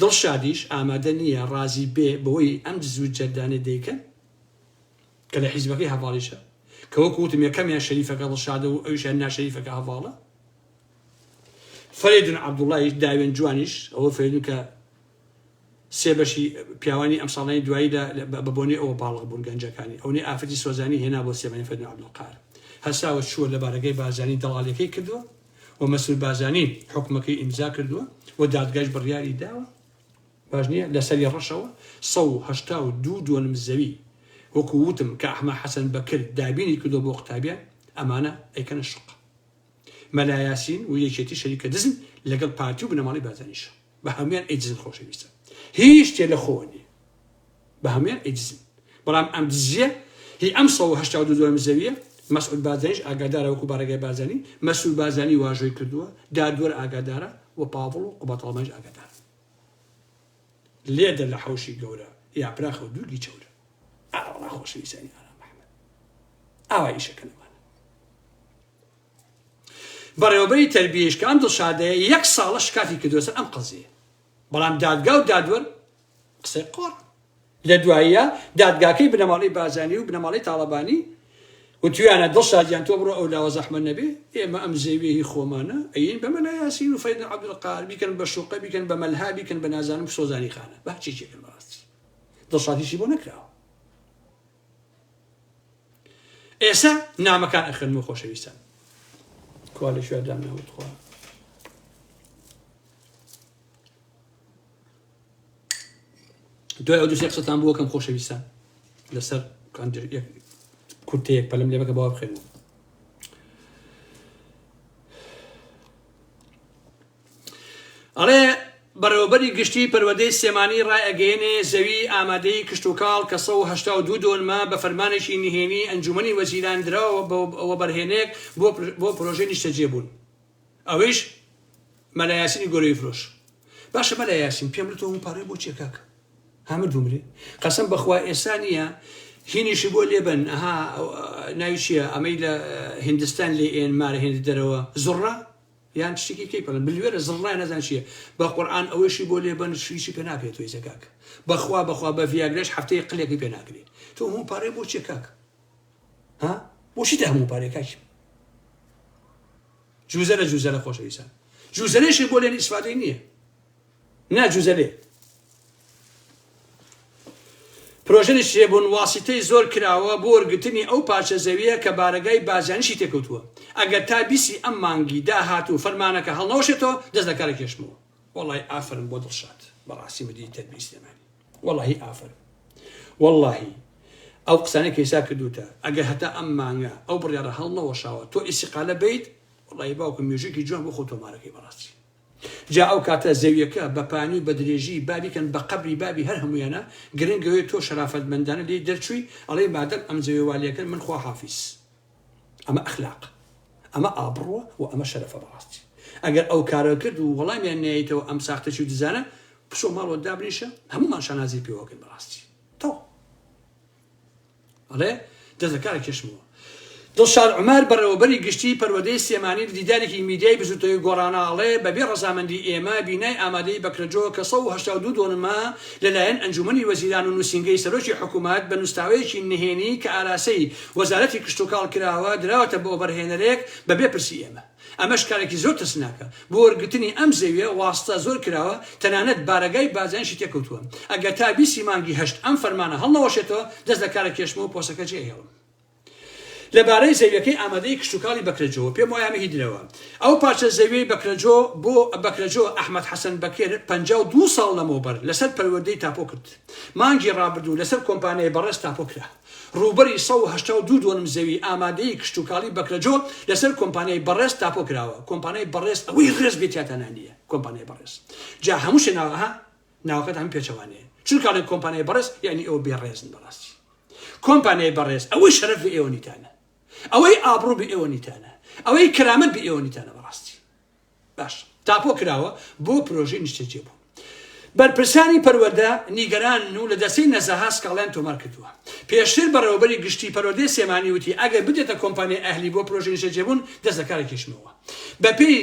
دڵشادیش ئامادە نییە ڕازی بێ بەوەی ئەم دز و جەردانەی دەیکەن کە لە حیزبەکەی هەڤاڵیشە کە وەکو وتم یەکەمیان شەریفەکە دڵشادە و ئەویشیان ناشەریفەکە هەڤاڵە فەرێدون عەبدوڵایش داوێن جوانیش ئەوە فەرێدون کە سێ بەشی پیاوانی ئەم ساڵانی دوایی لە بە بۆنی ئەوە باڵغ بوون گەنجەکانی ئەونی ئافرەتی سۆزانی هێنا بۆ سێمانی فەرێدون عەبدولقار هەساوە چووە لە بارەگای بارزانی دەڵالیەکەی کردووە و مەسرور بارزانی حوکمەکەی ئیمزا کردووە و دادگایش بڕیاری داوە باش نییە لەسەری ڕەشەوە سە و هەشتا و دوو دۆنم زەوی وەکو وتم کە ئەحمە حەسەن بەکر دابینی کردو بۆ قوتابیان ئەمانە ئەیکەنە شوقە مەلا یاسین و یەکێتی شەریکە دزن لەگەڵ پارتی و بنەماڵەی بارزانیشە. بە هەموان ئەیدزن خۆشەویستە هیچ شتێ لە خۆوە نیە بە هەموان ئەیدزن بەڵام ئەم دزیە هی ئەم سەد و هەشتا و دوو دۆلار زەویە مەسعود بارزانیش ئاگادارە وەکو بارەگای بارزانی مەسرور بارزانی واژۆی کردووە دادوەر ئاگادارە و پاڤڵ و قوباد ئاڵمانیش ئاگادارە لێدە لە حەوشی گەورە یاپراخە و دووگی چەورە ئاوەڵا خۆشەویستانی ئارام ئەحمەد ئاوا ئیشەکە لەمانە بەڕێوەبەری تەربیەیش کە ئەم دڵشادەیە یەک ساڵە شکاتی کردووە سەر ئەم قەزیەیە بەڵام دادگا و دادوەر قسەی قۆڕ لە دواییە دادگاکەی بنەماڵەی بارزانی و بنەماڵەی تاڵەبانی وتویانە دڵشادیان تۆ بڕۆ ئەو لاوە زەحمەت نەبێ ئێمە ئەم زێویە هی خۆمانە ئەین بە مەلا یاسین و فەیدن عەبدولقار بیکەن بە شوقە بیکەن بە مەلها بیکەن بە نازانم سۆزانی خانە بە هەرچێکێکن بەڕاستی دڵشادیشی بۆ نەکراوە ئێسە نامەکان ئەخن و خۆشەویستان کوا لە شوێن دام ناوت خۆ دوای ئەو دوسێ قسەتان بووە کەم خۆشەویستان لەسەر کورتەیەک پەلم لێ بەکە باوە بخێنەوە ئەڵێ، بەڕێوەبەری گشتیی پەروەردەی سلێمانی ڕایئەگەیەنێ، زەویی ئامادەی کشتوکاڵ کە سەد و هەشتا و دوو دۆنمە، بە فەرمانێکی نهێنیی ئەنجوومەنی وەزیران دراوە بە وەبەرهێنەیەک بۆ پرۆژەی نیشتەجێبوون. ئەویش مەلا یاسینی گۆرەویفرۆش. باشە مەلا یاسین، پێم بڵێ تۆ هەموو پارەی بۆ چییە کاکە؟ ها مردوو مرێ؟ قەسەم بە خوا ئێستا نییە، هینیشی بۆ لێ بەن، ئەها، ناوی چییە ئەمەی لە هیندستان لێ ئێن، مارە هێندە دەرەوە، زوڕە؟ یان شتێکی کەی پەڵێ ملوێنە زڕڵای نەزان چیە بە قورعان ئەوەشی بۆ لێ بەن شویشی پێ ناکرێت تۆی زەکاک بەخوا بەخوا بە ڤیاگرش هەفتەیە قلێکی پێ ناکرێت تۆ هەموو پارەی بۆ چیە کاک ها بۆچی دە هەموو پارەی کاکی جوزەرە جوزەرە خۆشەویسان جوزەرێشی بۆ لێن ئیسفادەی نییە نا جوزەلێ پرۆژە نشرێبوون واسیتەی زۆر کراوە بۆ وەرگرتنی ئەو پارچە زەویە کە بارەگای بازیانیشی تێکەوتووە ئەگەر تا بیسی ئەم مانگی داهاتوو فەرمانەکە هەڵنەوەشێتەوە دەست لە کارە کێشمەوە وەڵای ئافەرم بۆ دڵشاد بەڕاستی مدیری تەربیی سلێمانی وەڵاهی ئافەرم وەڵاهی ئەو قسانە کەیسا کردوتە ئەگەر هەتا ئەم مانگە ئەو بڕیاڕە هەڵنەوەشاوە تۆ ئیسیقالە بیت وەڵی باوکم مێژوکی جوان بۆ خۆ تۆمارەکەی بەڕاستی جا ئەو کاتە زەویەکە بە پانی و بە درێژی با بیکەن بە قەبری بابی هەر هەموویانا گرنگ ئەوەیە تۆ شەرافەتمەندانە لێی دەرچووی ئەڵێی مادەم ئەم زەویە وا لێکەن من خوا حافیز ئەمە ئەخلاق ئەمە ئابڕووە و ئەمە شەرەفە بەڕاستی ئەگەر ئەو کارە کرد و وەڵامیان نەیەیتەوە ئەم ساختەچی و دزانە بچۆ ماڵەوە دابنیشە هەموومان شانازی پێوەکەن بەڕاستی تەواو. ئەڵێ دەست لە کارە کێشمەوە. دڵشاد عومەر، بەڕێوەبەری گشتیی پەروەردەی سلێمانی لە دیدارێکی میدیای بزووتنەوەی گۆڕانە ئەڵێ، بەبێ ڕەزامەندیی ئێمە بینای ئامادەی بەکرەجۆ کە سەد و هەشتا و دوو دۆنمە لەلایەن ئەنجوومەنی وەزیران و نووسینگەی سەرۆکی حکوومەت بە نووسراوەیەکی نهێنی کە ئاراسی وەزارەتی کشتوکاڵ کراوە دراوەتە بۆ بەرهێنەرێک بەبێ پرسی ئێمە. ئەمەش کارێکی زۆر ترسناکە، بۆ وەرگرتنی ئەم زەویە واستە زۆر کراوە، تەنانەت بارەگای بازیانیشی تێکەوتووە، ئەگەر تا بیست ی مانگی هەشت ئەم فەرمانە هەڵنەوەشێتەوە دەست لە کارە کێشمەوە پۆستەکە جێ ئەهێڵم. لەبارەی زەویەکەی ئامادەی کشتوکاڵی بەکرەجۆوە پێم وایە مەهی درەوە ئەو پارچە زەویەی بەکرەجۆ بۆ بەکرەجۆ ئەحمەد حەسەن بەکر پەنجا و دوو ساڵ لەمەوبەر لەسەر پەروەردەی تاپۆ کرد مانگی ڕابردوو لەسەر کۆمپانیای بەڕێز تاپۆ کرا. رووبەری سەد و هەشتا و دوو دۆنم زەوی ئامادەی کشتوکاڵی بەکرەجۆ لەسەر کۆمپانیای بەڕێز تاپۆ کراوە کۆمپانیای بەڕێز ئەوەی رێز بێ تیاتا نانیە کۆمپانیای بەڕێز جا هەموو شێ ناوە ها ناوەکەت هەموو پێچەوانەیە چون کاڵێن کۆمپانیای بەڕێز یانی ئێوە بێ رێزن بەڕاستی کۆمپانیای بەڕێز ئەوەی شەرەف بێ ئێوە نیتانە ئەوەی ئابڕوو بێ ئێوە نیتانە ئەوەی کەرامەت بێ ئێوە نیتانە بەڕاستی باش تاپۆ کراوە بۆ پرۆژەی نیشتەجێبوون. بەرپرسانی پەروەردە نیگەرانن و لە دەستەی نەزەهە سکاڵایان تۆمار کردووە. پێشتر بەڕێوەبەری گشتی پەروەردەی سلێمانی وتی ئەگەر بدرێتە کۆمپانیای ئەهلی بۆ پرۆژەی نیشتەجێبوون دەست لە کاری کێشمەوە. بەپێی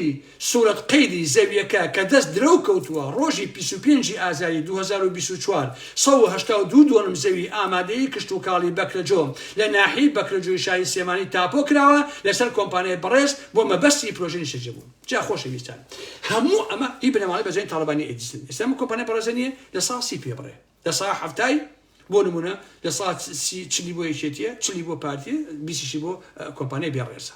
سورەت قەیدی زەوییەکە کە دەست درەو کەوتووە، ڕۆژی بیست و پێنج ی ئازاری دوو هەزار و بیست و چوار سەد و هەشتا و دوو دۆنم زەوی ئامادەیی کشتوکاڵی بەکرەجۆ لە ناحیەی بەکرەجۆی شاری سلێمانی تاپۆ کراوە لەسەر کۆمپانیای بەڕێز بۆ مەبەستی پرۆژەی نیشتەجێبوون جا خۆشەویستان هەموو ئەمە هی بنەماڵەی بەرزانی تاڵەبانی ئێدیسن ئێستا ئەم کۆمپانیا بەڕێزە نییە لە سا سی پێ بڕێ لە سا حەفتای بۆ نمونە لە سا سی چلی بۆ یەکێتیە چلی بۆ پارتیە بیسیشی بۆ کۆمپانیای بێڕێزە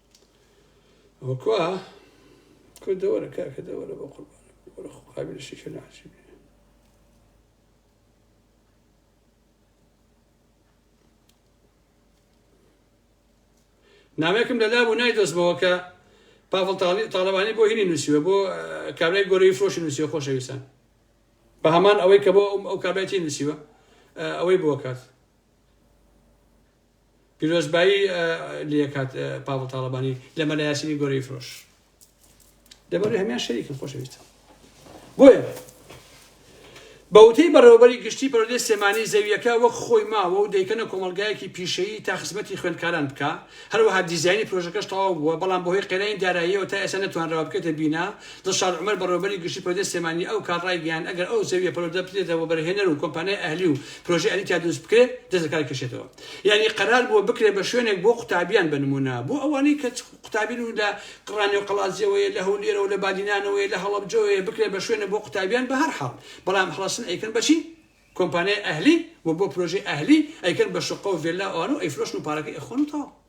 وەکوا کورد دەوەرە کاکە دەوەرە بە قوربان وەرە خۆ قابل شیشە ناچێت نامێکم لە لابوو نایدۆزمەوە کە پاڤڵ تاالبانی بۆ هینی نووسیوە بۆ کابرای گۆرەی فرۆشی نووسیە خۆشەویستان بە هەمان ئەوەی کە بۆ ئەو کابێتی نووسیوە ئەوەی بۆ کات پیرۆزبایی لەکات پاڤڵ تاڵەبانی لە مەلا یاسینی گۆرەی فرۆش لەبەر هەمان شەریکن خۆشەویستم بۆیە بەوتەی بەڕێوەبەری گشتی پەرۆدەی سێمانی زەویەکە وەک خۆی ماوە و دەیکەنە کۆمەلگایەکی پیشەیی تا خزمەتی خوێندکاران بکە هەروەها دیزایانی پرۆژەکەش تەواو بووە بەڵام بەهۆی قێنانی داراییەوە تا ئێستا نەتوانراوە بکەێتە بینا دڵشاد عومەر بەڕێوەبەری گشتی پەروەردەی سلێمانی ئەو کات ڕایگەیاند ئەگەر ئەو زەویە پەروەردە بدرێتە وەبەرهێنەر و کۆمپانیای ئەهلی و پرۆژەی ئەهلی تیا دروست بکرێت دەست لە کار کێشێتەوە یانی قەرار بووە بکرێت بە شوێنێک بۆ قوتابیان بە نموونە بۆ ئەوانەی کە قوتابین و لە ڕانێو قەڵادزێوەیە لە هەولێرەوە لە بادینانەوەیە لە هەڵەبجەوەیە بکرێت بە شوێنە بۆ قوتابیان بە هەرحاڵ بەڵام هەڵەسن ئەیکەن بە چی کۆمپانیای ئەهلی و بۆ پرۆژەی ئەهلی ئەیکەن بە شوققە و ڤێلا و ئەوانە و ئەیفرۆشن و پارەکەی ئەخۆن و تەواو.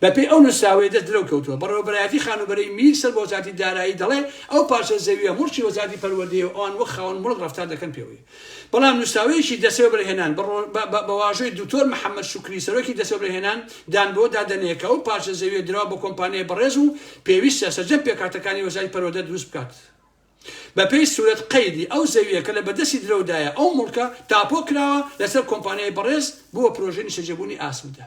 بە پێی ئەو نوسراوەی دەست درەو کەوتووە، بەڕێوەبەرایەتی خانووبەرەی میر سەر بە وەزارەتی دارایی دەڵێ ئەو پارچە زەوییە موڵکی وەزارەتی پەروەردەیە و ئەوان وەک خاوەن موڵک ڕەفتار دەکەن پێوەی. بەڵام نوسراوەیەکی دەستێوەبەرهێنان بە واژۆی دوکتۆر محەمەد شوکری سەرۆکی دەستێوەبەرهێنان دان بەوەدا دەنێ کە ئەو پارچە زەوییە دراوە بە کۆمپانیای بەڕێز و پێویستە سەرجەم پێکهاتەکانی وەزارەتی پەروەردە دروست بکات بە پێی سورەت قەیدی ئەو زەوییە کە لە بەردەستی درەودایە ئەو موڵکە تاپۆ کراوە لەسەر کۆمپانیای بەڕێز بووە پرۆژەی نیشتەجێبوونی ئاسمدە.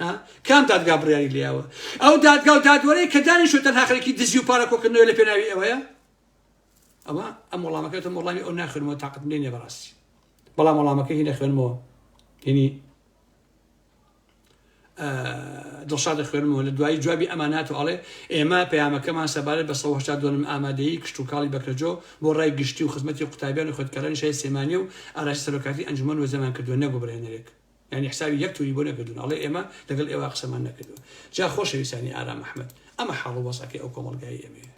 ها کام دادگا بڕیاری لێیاوە ئەو دادگا و دادوەرەی کە دانیشو تەنها خەرێکی دزی و پارە کۆکردنەوە لە پێناوی ئەوەیە ئەوە ئەم وەڵامەکەتە وەڵامی ئەو ناخێنەوە تااقت لێ نێ بەڕاستی بەڵام وەڵامەکە هی نەخوێنمەوە هینی دڵشادە خوێنمەوە لە دوایی جوابی ئەمانات و ئەڵێ ئێمە پەیامەکەمان سەبارەت بە سەهشتا دۆنم ئامادەی کشتتوکڵی بەکەجۆ بۆ ڕای گشتی و خزمەتی قوتابیان و خۆتکارانی شای سێمانی و ئاراسی سەرۆکاتی ئەنجومەن وەزەمان کردووە نەگوبرێنەرێک یانی حسابی یەک توری بۆ نەکردون ئەڵێ ئێمە لەگەڵ ئێوە قسەمان نەکردوە جا خۆشەویستانی ئارام ئەحمەد ئەمە حاڵ وەزعەکەی ئەو کۆمەڵگای ئێمەیە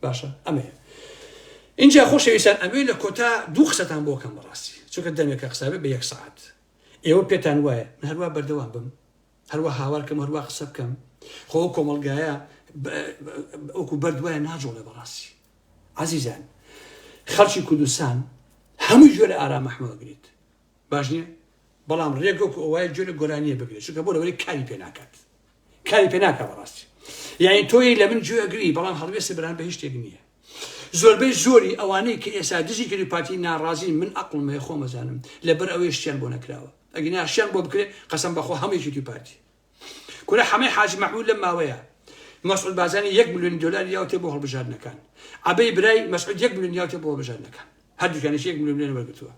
باشە ئەمەیە اینجا خۆشەویستان ئەمێ لە کۆتا دوو قسەتان بۆ کەم بەڕاستی چونکە دەمێکە قسابێ بە یەک سعات ئێوە پێتان وایە من هەروە بەردەوام بم هەروە هاوارکەم هەروە قسە بکەم خۆ کۆمەلگایە ئەوکو بەردوایە ناجۆڵێ بەڕاستی عزیزان خەڵکی کوردستان هەموو جۆرە ئارام مححمەوەگریت باش نیە بەڵام ڕێک وەکو ئەوەیە گوێ لە گۆرانیە بگرێت چونکە بۆ لەوەی کاری پێ ناکات کاری پێ ناکە بەڕاستی یعنی تۆی لە من گوێ ئەگری بەڵام هەڵوێستی بران بە هیچ شتێک نییە زۆربەی زۆری ئەوانەی کە ئێستا دژی کردی پارتی ناڕازی من ئەقلم هەیە خۆمەزانم لەبەر ئەوەی شتیان بۆ نەکراوە ئەگینا شتیان بۆ بکرێت قەسم بەخۆ هەمێکی توی پارتی کورە حەمەی حاجی مەحمود لەم ماوەیە مەسعود بازانی یەک ملیۆنی دلار یاوتێ بۆ هەڵبژاردنەکان عبەی برای مەسعود یەک ملیۆن یاوتێ بۆ هەڵبژاردنەکان هەردووکانێکی یەک ملیۆن لێن وەرگتووە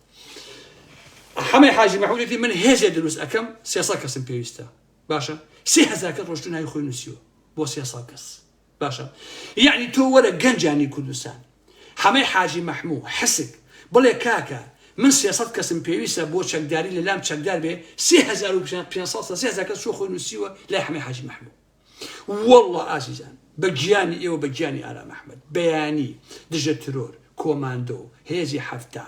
حەمەی حاجی مەحمودێتی من هێزێ دروست ئەەکەم سێسە کەسم پێویستە باشە سێهزار کە ڕۆشتو ناوی خۆی نووسیوە بۆ سێسە کەس باشە یەعنی تۆ وەرە گەنجانی کوردستان حەمەی حاجی مەحموو حسک بڵێ کاکە من سێ سەد کەسم پێویستە بۆ چەکداری لە لام چەکدار بێ سێ هەزار و پێنج سەد سێ هەزار کەس چۆ خۆی نووسیوە لای حەمەی حاجی مەحموو واللە ئازیزان بە گیانی ئێوە بە گیانی ئارام ئەحمەد بەیانی دژە ترۆر کۆماندۆ، هێزی حەفتا.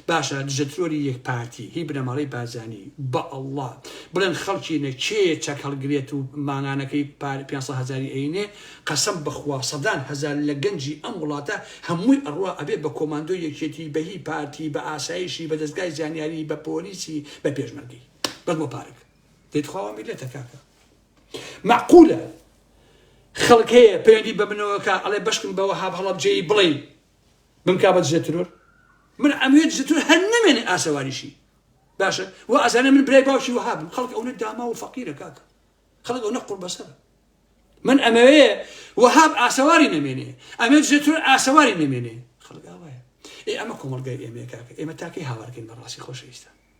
باشە دژە ترۆری یەک پارتی هی بنەماڵەی بارزانی بە اللە بڵێن خەڵکینە کێیە چەک هەڵگرێت و مانگانەکەی پار پێنج سەد هەزاری ئەینێ قەسەم بەخوا سەدان هەزار لە گەنجی ئەم وڵاتە هەمووی ئەڕوا ئەبێ بە کۆماندۆی یەکێتی بە هی پارتی بە ئاسایشی بە دەزگای زانیاری بە پۆلیسی بە پێشمەرگەی بەس بۆ پارەک دەی تخوا وا میلەتە کاکە مەعقولە خەڵک هەیە پەیوەندی بە منەوە کا ئەڵێ بەشکم بە وەهاب هەڵەبجەیی بڵێ بمکا بە دژە ترۆر من ئەموێت دژە ترۆر هەر نەمێنێ ئاسەواریشی باشە و ئەزانە من برای باوکی وەهابم خەڵک ئەوە داما و فەقیرە کاکە خەڵک ئەوە قوڵ بەسەرە من ئەمەوێ وەهاب ئاسەواری نەمێنێ ئەمێ دژە ترۆر ئاسەواری نەمێنێ خەڵک ئاوایە ئێ ئەمە کۆمەڵگای ئێمە کاکە ئێمە تاکەی هاوارکەین بە ڕاستی خۆشەویستە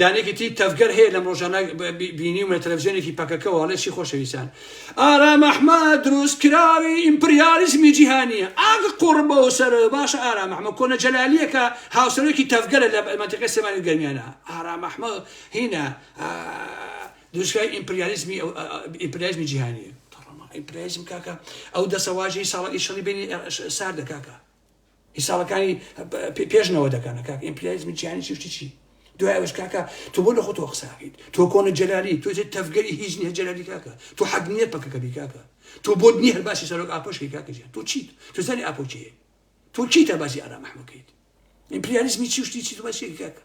دانێکی تری تەڤگەر هەیە لەم ڕۆژانە بینیومە تەلەفزیۆنێکی پەکەکەوە ئەڵێ چی خۆشەویستان ئارام ئەحمەد دروستکراوی ئیمپریالیزمی جیهانیە ئاگ قوڕ بەو سەر باشە ئارام ئەحمەد کۆنە جەلالیەکە هاوسەرۆکی تەڤگەرە لە مەنتیقەی سلێمانی و گەرمیانە ئارام ئەحمەد هینا دروستکراوی ئیمپریالیزمی ئیمپریالیزمی جیهانیە ئیمپریالیزم کاکە ئەو دەسەواژەی ساڵی شەڕی بینی ساردە کاکە حیسابەکانی پێش نەوە دەکەنە کاک ئیمپریالیزمی جیهانی چی شتی چی دوای ئەوش کاکە تۆ بۆ لە خۆتەوە قساکەیت تۆ کۆنە جەلالی تۆ جێت تەفگەری هیچ نیە جەلالی کاکە تۆ حەق نییە پەکەکە بی کاکە تۆ بۆت نییە هەر باسی سەرۆک ئاپۆشکی کاکە جیان تۆ چیت تۆ زانی ئاپۆچەیە تۆ چیتە باسی ئارام ئەحمەکەیت ئیمپریالیزمی چی شتی چی باسی کاکە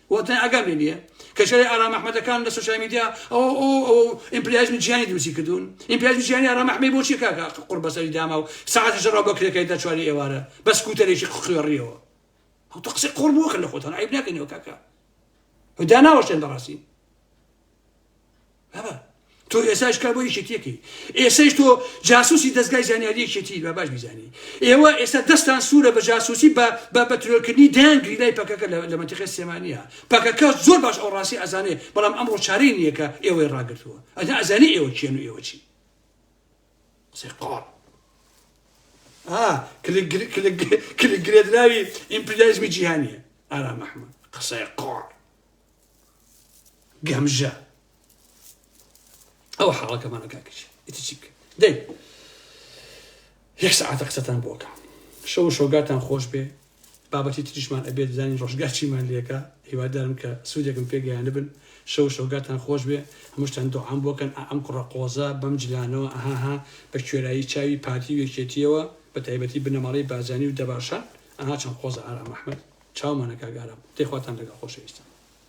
وە تەنیا ئاگام لێ نیە کە ژەرەی ئارام ئەحمەدەکان لە سۆشیال میدیا ئەوە ئەو ئەوە و ئیمپریالیزمی جیهانی دروستی کردوون ئیمپریالیزمی جیهانی ئارام ئەحمەی بۆ چیە کاکە ئاخ قوڕ بەسەری داما و سەعاتی ژەڕاو بە کرێکای دا چواری ئێوارە بە سکوتەرێکی خوێڕیەوە هەتۆ قسەی قۆڕ مەکەن لە خۆتان عەیب ناکەینەوە کاکە و داناوەشێن بەڕاستی تۆ ئێساش کار بۆ یەکێتیەکەی ئێسەش تۆ جاسوسی دەستگای زانیاری یەکێتی بە باش بیزانی ئێوە ئێستا دەستان سوورە بە جاسوسی بە بە بەترۆکردنی دەیان گریلای پەکەکە لە منتیقی سێمانە پەکەکە زۆر باش ئەو ڕاستی ئەزانێ بەڵام ئەمڕۆ چارەی نییەکە ئێوەی ڕاگرتووە ئەجا ئەزانی ئێوە کێن و ئێوە چی سێقۆڕ کلگرێدراوی ئیمپریالیزمی جیهانیە ئارام ئەحمد قسەی قۆڕ گەمژە ئەو حاڵەکەمانە کاکەچی ئیتر چی بکەین دەی یەک سەعاتە قسەتان بۆکە شەو و شۆگاتان خۆش بێ بابەتی تریشمان ئەبێت بزانین ڕۆژگار چیمان لەکە هیوادارم کە سوودێکم پێگەیانە بن شەو شۆگاتان خۆش بێ هەمووشتان دوعام بۆکەن ئەم کوڕە قۆزە بەم جلانەوە ئەهاها بە کوێرایی چاوی پارتی و یەکێتیەوە بە تایبەتی بنەماڵەی بازانی و دەباشان ئەها چەند قۆزە ئارام ئەحمەد چاومانە کاک ئارام دەی خواتان لەگەڵ خۆشەویستان.